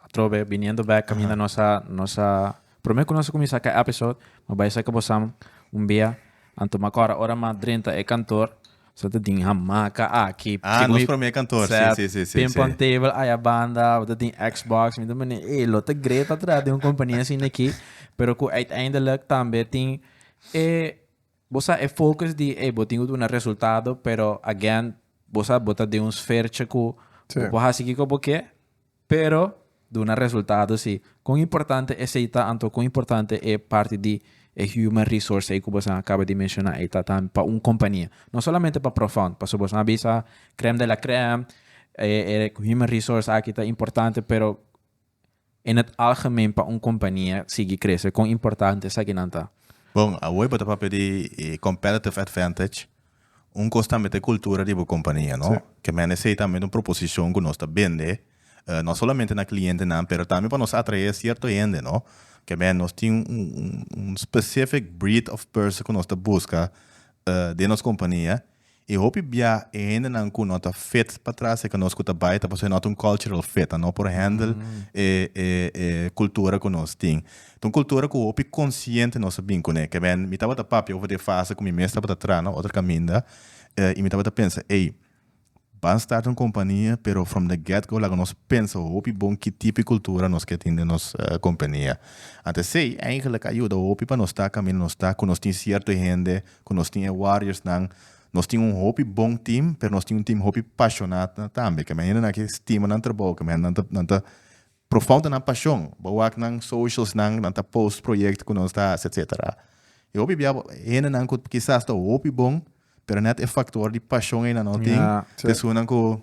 atrobe biniendo bèk kaminda nos a nos a promé ku nos a kuminsá kai episode, mi a bai sèk ku bosamen un bia, anto mi a kòrda ora mi a drenta e kantor. So ta tin hamaca aki. Ah, nos prome kantor, si, si, si, si. Ping pong table aya banda, bo ta tin Xbox. Mi ta mene, ey, lo ta great pa traha den un compania asina aki. Pero cu uiteindelijk tambe tin e, bo sa, e focus di, ey, bo tin cu duna resultado, pero again, bo sa, bo ta den un sfertje cu bo por haci kico bo ke. Pero duna resultado si. Kon importante esei ta anto kon importante e parti di e human resource ei ku boso a kaba di menshona ei ta tambe pa un kompania. No solamente pa Profound paso boso a bisa krèm de la krèm e human resource aki ta importante pero in het algemeen pa un kompania sigui krese kon importante esakinan ta. Bon, awor bo ta papia di competitive advantage. Un kos tambe ta e kultura di bo kompania, no? Ke men esei tambe ta un proposishon ku nos ta bende, no solamente na klientenan, pero tambe pa nos atraé sierto hende, no? Ke men nos tin un specific breed of person ku nos ta buska den nos kompania. I hopi bia e hendenan ku no ta fit pa trase ku nos ku ta bai ta pasobra e no ta un cultural fit, a no por handle e kultura ku nos tin. Ta un kultura ku hopi konsiente nos a bin kuné. Kebèn mi tabata papia over e fase ku mi mes tabata traha na otro kaminda i mi tabata pensa, ey, ban starta un kompania, pero from the get go laga nos pensa hopi bon ki tipo e kultura nos ke tin den nos kompania. Anto esei eigelik a yuda hopi pa nos ta kaminda nos ta, ku nos tin sierto hende, ku nos tin e warriorsnan. Nos tin un hopi bon tim, pero nos tin un tim hopi pashoná tambe. Kebèn hindenan ke stima nan trabou, kebèn nan ta nan ta Pro fout nan pashon, bo wak nan socials nan, nan ta post project ku nos ta hasi etc. E hopi bia hendenan ku kisas ta hopi bon, pero net e faktor di pashon ei nan no tin, ta esunnan ku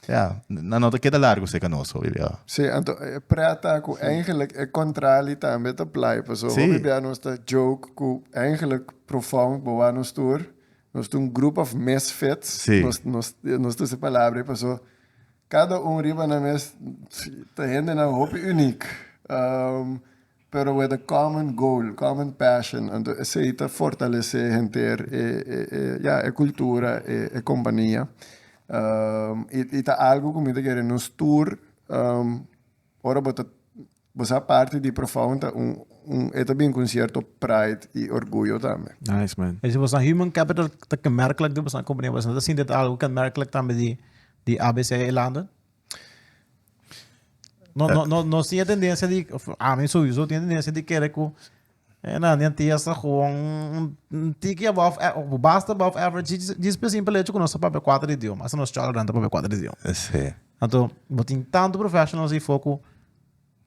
ya, nan no ta keda largu serka nos hopi bia. Sí, anto e pret ta ku eigenlik e kontrali tambe ta plai, paso hopi bia nos ta joke ku eigenlik pro fout bo wak nos tur, nos ta un group of misfits, nos ta usa e palabra ei paso Cada un riba nan mes ta hendenan hopi uniek, pero with a common goal, common passion, anto esey ta fortalece henter e ya e cultura e compania y ta algo cu mi ta kere nos tur. Ora bo ta bo sa parti di Profound ta un un e ta bin ku un sierto pride i orguyo tambe. Nice man. E si bosa human capital ta kenmerklik di bosa kompania bosa no ta sinti ta algu kenmerklik tambe di di ABC Eilanden? No no no no tin e tendensia di ami sowieso tin e tendensia di kere ku Hernandi a tia sa gewoon un tiki above a of basta above average djis pe simpel hecho cu nos ta papia cuater idioma. Hasta nos cholanan ta papia cuater idioma. Sí. Anto bo tin tanto professionals hierfo cu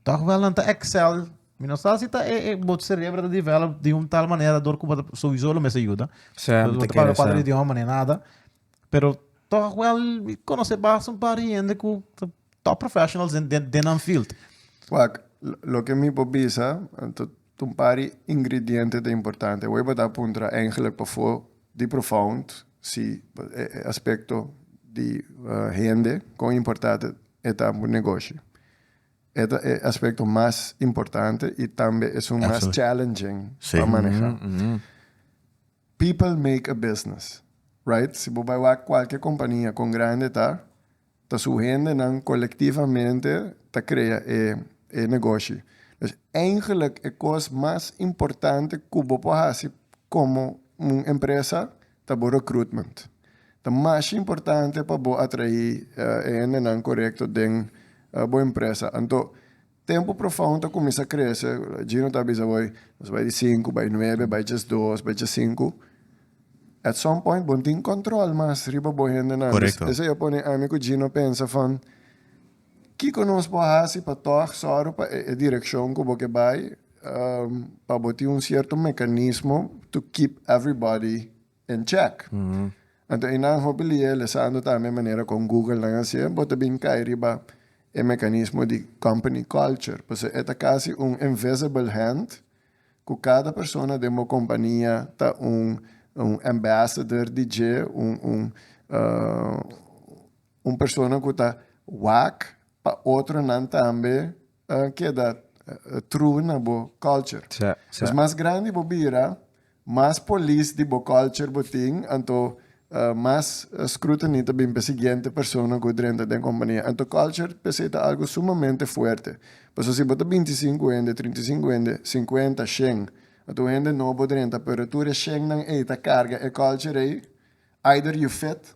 toch wel nan ta excel. Mi no sa si ta e e bo cerebro ta develop di un tal manera dor cu bo ta sowiso lo mes a yuda. Sí, bo ta papia cuater idioma ni nada. Pero toch wel mi conoce basta un par di hende cu ta top professionals den, den, den nan field. Wak, lo- lo ke mi por bisa, eh, ta ta un par di ingrediente ta importante. Awor e por ta puntra Engler pafó di Profound si ba- e e aspecto di eh, hende, kon importante e ta pa un negoshi. E ta e aspecto mas importante y tambe esun mas Absolute. challenging Sí. pa maneha. People make a business, right? Si bo bai wak cualke compania con grande ta, ta su hendenan colectivamente ta crea e e negoshi. Dus eigenlijk e cos mas importante cu bo por haci como un empresa ta bo recruitment. Ta masha importante pa bo atraí e hendenan corecto den bo empresa. Anto Tempu profound ta kuminsá krese. Gino ta bisa bo, nos bai di sinku, bai nuebe, bai djes dos, bai djes sinku. At some point bo no tin kòntròl mas riba bo hendenan. Korekto. Esei a pone ami ku Gino pensa van, kiko nos por hasi pa tòg sòru pa e e direkshon ku bo ke bai pa bo tin un sierto mekanismo to keep everybody. en chèk. Anto i nan hopi lia lesando tambe manera kon Google nan hasié, bo ta bin kai riba e mekanismo di company culture, pasobra e ta kasi un invisible hand ku kada persona den bo kompania ta un un ambassador di dje, un un un persona ku ta wak pa otronan tambe A keda true na bo culture. Sa, sa. Pues mas grandi bo bira, mas polis di bo culture bo tin, anto mas scrutiny ta bin pa e siguiente persona cu drenta den compania. Anto culture p'esey ta algo sumamente fuerte. Pasobra si bo ta binti y cinco hende, trinta y cinco hende, cincuenta, shen, anto un hende nobo drenta, pero tur e shennan ey ta carga e culture ey, either you fit,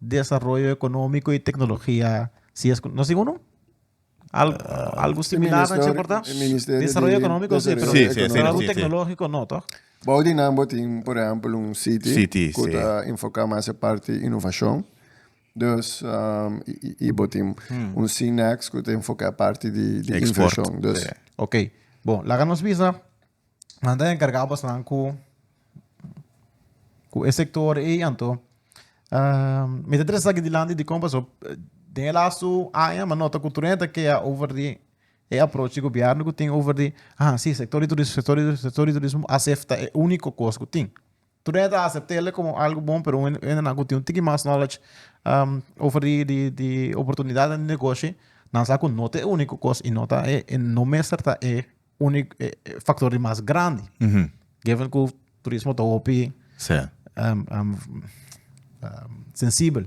Desaroyo economico y tecnologia si es cu no si uno? Al algo similar nan che porta? Ministerio- Ministerio di Desaroyo economico si Desaroyo pero Sí, sí, sí, algo sí, sí. tecnologico no toch? Bao di nan bo tin, por ehempel, un city, City, cu sí. ta enfoca mas e parti innovacion. Dus, um, y, y, y bo tin un CNEX cu ta enfoca e parti di, di Export, inversion. Dus, sí. Ok, bon, laga nos bisa. Nan ta encarga bosonan cu cu e sector ey anto mi ta trece aki dilanti dicon paso den e laatste aña mi a nota cu tur hende ta kea over di e aproach di gobierno cu tin over di ha si sector di turismo sector di turismo acepta e unico cos cu tin. Tunei ta aceptele como algo bon pero un hende nan cu tin un tiki mas knowledge over di di di oportunidadnan di negoshi nan sa cu no ta e unico cos y no ta e e no mester ta e unico e e factor di mas grandi given cu turismo ta hopi sensibel.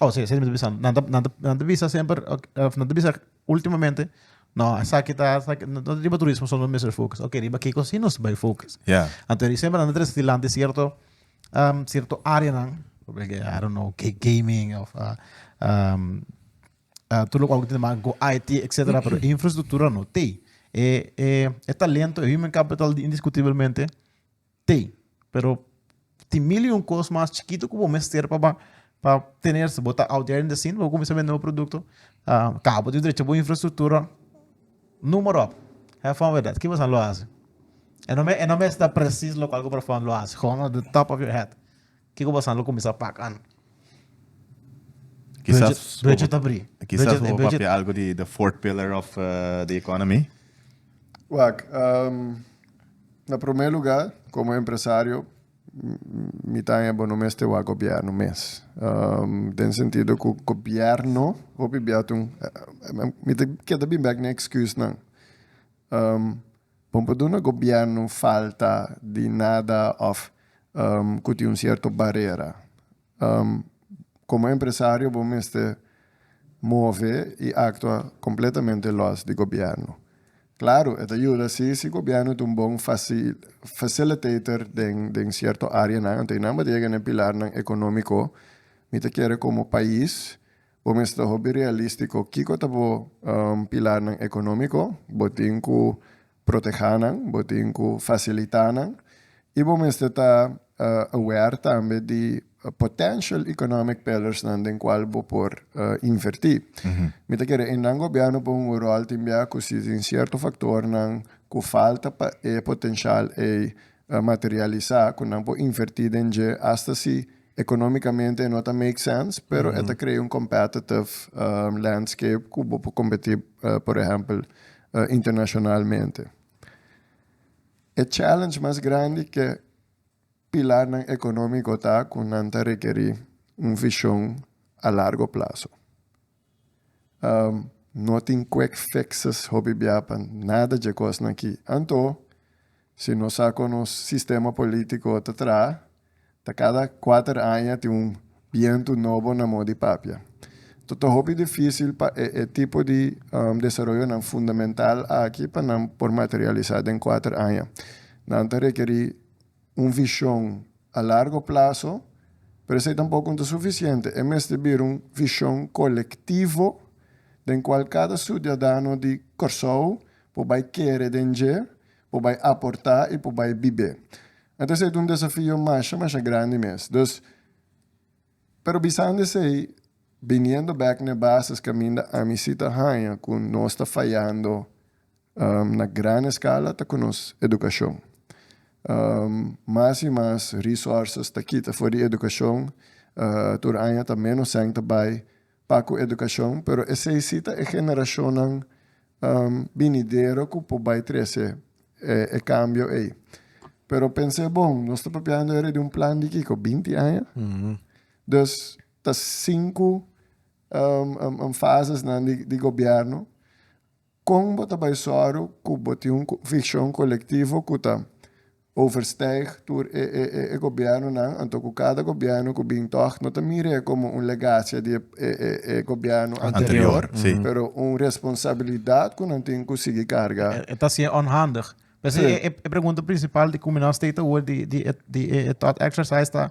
Oh, sí, sí, bisando. Nan ta, nan ta, nan ta bisa semper, ok, eh, nan ta bisa últimamente, no, esaki ta, esaki, no, no riba turismo solo mister focus. Ok, riba kiko si nos bai focus. Ja. Anto di semper nan ta tres dilanti cierto, um, cierto área nan, probabil que, I don't know, que gaming of, uh, um, uh, tu lo cual que tiene más go IT, etcétera, pero infraestructura no te. E, e, e talento, e human capital di- indiscutiblemente, Te. Pero tin mil i un kos mas chikitu ku bo mester pa pa pa tener. Si bo ta out there in the scene, bo kuminsá bende bo produkto, ah, ka bo tin drecha bo infrastruktura, noem maar op. Have fun with that. Ki boso a lo hasi? E no me, e no mester presis lokual ku bo ta lo hasi. Gòno de top of your head. Kiko pasan lo cuminsa pak an. Quizas budget ta bri. Quizas bo papia algo di the fourth pillar of the economy. Wak, na prome lugar como empresario mi ta haña bo no mester wak gobierno mes. Den sentido cu gobierno hopi bia tin, mi ta keda bin bek na excusnan. Bon pa duna gobierno falta di nada of cu tin un cierto barera. Como empresario bo mester move y actua completamente los di gobierno. Claro e ta yuda si si gobierno ta un bon facilitator den cierto areanan, anto y nan bata yega na e pilarnan economico, mi ta kere como pais, Bo mester hopi realístiko. Kiko ta bo pilarnan ekonómiko? Bo tin ku protehá nan, bo tin ku fasilitá nan i bo mester ta aware tambe di potential economic pillersnan den kual bo por invertí. Mi ta kere e nan gobièrnu por hunga un ròl tin bia ku si tin sierto faktornan ku falta pa e potenshal ei materialisá, ku nan por invertí den dje asta si Economicamente e no ta make sense pero e ta crea un competitive landscape cu bo por competi por ehempel internacionalmente. E challenge mas grandi cu e pilarnan economico ta cu nan ta requeri un vision a largo plazo. No tin quick fixes hopi bia pa nada dje cosnan aki. Anto, si nos sa con nos sistema politico ta traha, ta cada cuater aña tin un bientu nobo na mo di papia. Ta ta hopi dificil pa e e tipo di desaroyonan fundamental aki pa nan por materialisa den cuater aña. Nan ta requeri un vishon a largo plaso, pero esei tampoko no ta sufisiente, e mester bira un vishon kolektivo den kual kada sudiadano di Kòrsou por bai kere den dje, por bai aportá i por bai bib'é. Anto esei ta un desafio masha masha grandi mes. Dus, pero bisando esei, biniendo bèk na e bases kaminda ami si ta haña ku nos ta fayando. Na gran eskala ta ku nos edukashon. Mas i mas resources ta kita for di edukashon, tur aña ta ménos sèn ta bai pa ku edukashon, pero esei si ta e generashonnan binidero ku por bai trese e kambio ei. Pero pens'é bon, nos ta papiando era di un plan di kiko? Binti aña? Dus ta sinku fases nan di gobierno. Kon bo ta bai sòru ku bo tin un konvikshon kolektivo ku ta overstijg tur e e e gobièrnunan, anto ku kada gobièrnu ku bin tòg no ta mira e komo un legasia di e e e gobièrnu anterior, pero un responsabilidat ku nan tin ku sigui karga? E ta siña ònhandig. P'esei e e pregunta prinsipal di Kuminau State ta hoor di di e di e e thought exercise ta.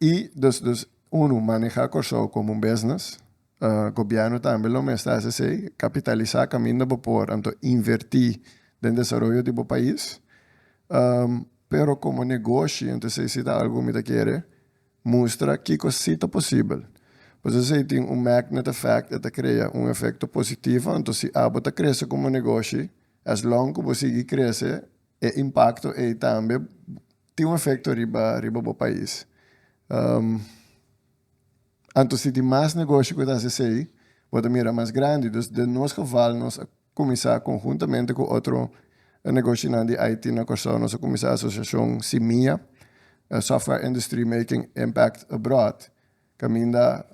Y dus dus unu maneha Corsou como un business, gobierno tambe lo mester haci esey, capitalisa caminda bo por anto inverti den desaroyo di bo pais, pero como negoshi anto esey si ta algo cu mi ta kere mustra kico si ta posibel, pues esey tin un magnet effect e ta crea un efecto positivo anto si abo ta crece como negoshi as long cu bo sigui crece e impacto ey tambe Tin un efekto riba riba bo pais. Anto si tin mas negoshi ku ta hasi esei, bo ta mira mas grandi. Dus den nos geval nos a kuminsá konhuntamente ku otro negoshinan di IT na Kòrsou, nos a kuminsá asosiashon Simia, Software Industry Making Impact Abroad. Caminda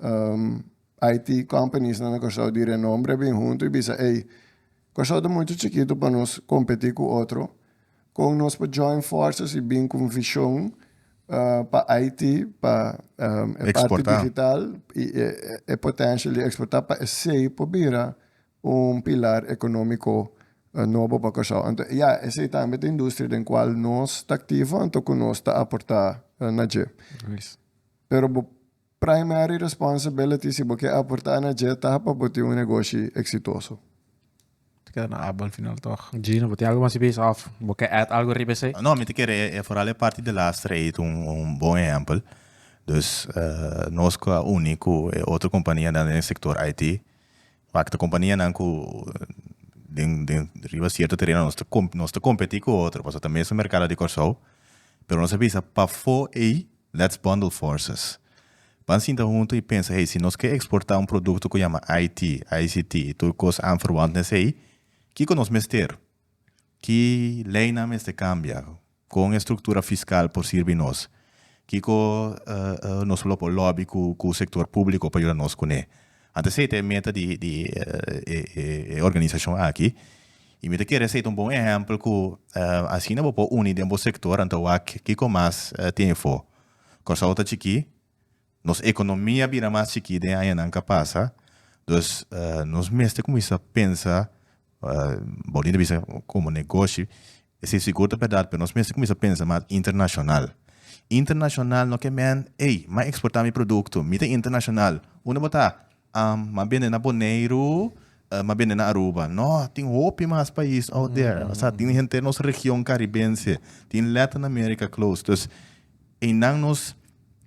IT companies nan na Corsou di renombre a bin hunto y bisa ey, Corsou ta muito chikito pa nos competi cu otro, con nos por join forces y bin cu un vision pa IT pa e parti digital y e potential di exporta pa esey por bira un pilar economico nobo pa Corsou. Anto ya, esey tambe ta industria den cual nos ta activo anto cu nos ta aporta na dje. pero bo primary responsibility si bo ke aporta na dje ta pa bo tin un negoshi eksitoso. Ta keda na abo al final tog. Gino, bo tin algu mas di base of bo ke add algu riba esei? No, mi ta kere e foral e parti di last trade un bon ehempel. Dus nos ku a uni ku e otro kompanianan den e sektor IT, wak ta kompanianan ku den den riba sierto tereno nos ta nos ta kompeti ku otro pasobra ta mesun merkado di Kòrsou, pero nos a bisa pafó ei, Let's bundle forces. Ban sinta huntu i pensa, hey, si nos ke eksportá un produkto ku yama IT, ICT i tur kos aanverwant na esei, kiko nos mester? Ki leinan mester kambia? Kon e struktura fiskal por sirbi nos? Kiko nos lo por lòbi ku sektor públiko pa yuda nos kuné? Anto esei ta e meta di e organisashon aki i mi ta kere esei ta un bon ehèmpel ku asina bo por uni den bo sektor anto wak kiko mas tin efo. Kòrsou ta chikí, nos ekonomia a bira mas chikí den añanan ku a pasa, dus nos mester kuminsá pensa Boni ta bisa komo negoshi, esei sigur ta berdad, pero nos mester kuminsá pensa mas internashonal. Internashonal no ke men, ey, m'a eksportá mi produkto, mi ta internashonal. Un ta botá, m'a bende na Boneiru, m'a bende na Aruba. Nò, tin hopi mas pais out there. O sea, tin henter nos region karibense, tin Latin America close. Dus. Einan nos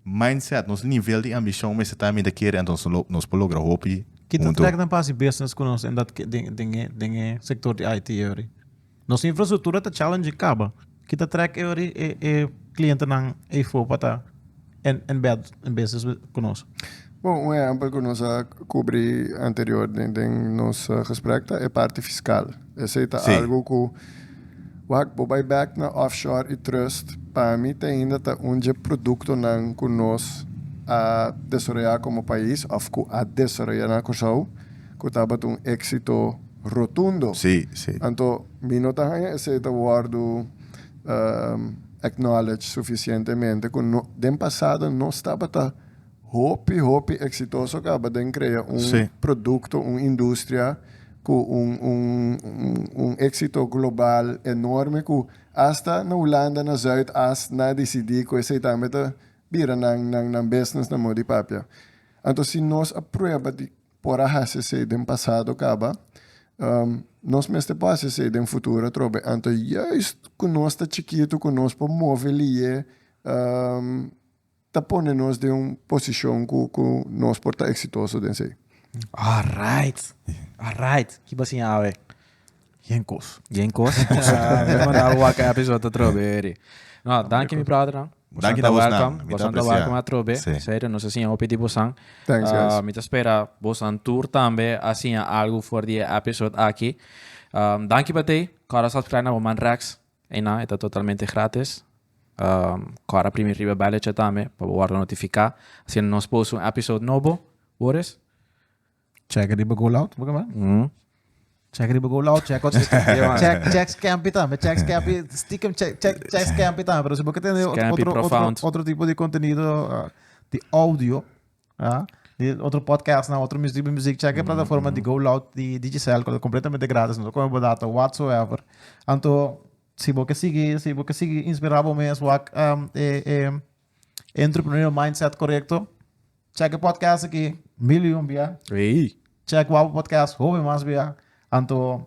mindset, nos nivel di ambicion mester ta aminta kere, anto nos lo nos por logra hopi Ki punto. trek nan pas di business ku nos en dat ke den den e den e sektor di IT e ori? Nos infrastruktura ta challenging kaba. Ki ta trek e ori e e klientenan eyfo pa ta en en bèd en business ku nos? Bon, un ehempel cu nos a cubri anterior den nos gesprek ta e parti fiscal. Esey ta algo cu, wak, bo bay bek na offshore y trust, pa mi tainda ta un dje productonan cu nos a desaroya como pais of cu a desaroya na Cusau cu tabat un exito rotundo. Anto mi no ta hanja esey ta wordo acknowledge suficientemente cu den pasado nos tabata. Hopi, hopi exitoso caba den crea un producto, un industria cu un, un, un exito global enorme cu hasta na Hulanda, na Zuid As nan a dicidi cu esey tambe ta bira nan, nan, nan business na modo di papia. Anto si nos a prueba di por a haci esey den pasado caba, nos mester por haci esey den futuro atrobe. Anto juist cu nos ta chikito cu nos por move liye, ta pone nos den un posishon ku ku nos por ta eksitoso den esei. Alright, alright. Ki bo a siña awe? Yen kos. Yen kos. Mi a manda bo wak episode atrobe eri. No, danki mi brothernan. Bosan ta welcome. Bosan ta welcome atrobe. Serio, nos a siña hopi di bosan. Thanks guys. Mi ta spera bosan tur tambe a siña algu for di e episode aki. Danki pa tei. Kòrda subscribe na bo man Rex. Einan e ta totalmente gratis. Kora primi riba e belletje tambe pa bo wordo notifica asina nos post un episode nobo. Boris? Check riba Go Loud, bo kaba? Check riba Go Loud, check otro sitio. check, check Scampy tambe, check Scampy, stiekem check, check, check Scampy tambe. Pero si bo ke tende otro, otro, otro tipo di contenido di audio. Ah, di otro podcast na otro music tipo music check mm, plataforma mm. di Go Loud di Digicel que completamente gratis no come data whatsoever. Anto si bo que sigue si bo que sigue inspirado bo mes wak um, eh, eh, entrepreneurial mindset correcto. Check podcast aqui million bia. Hey. Check wap podcast hobe mas bia. Anto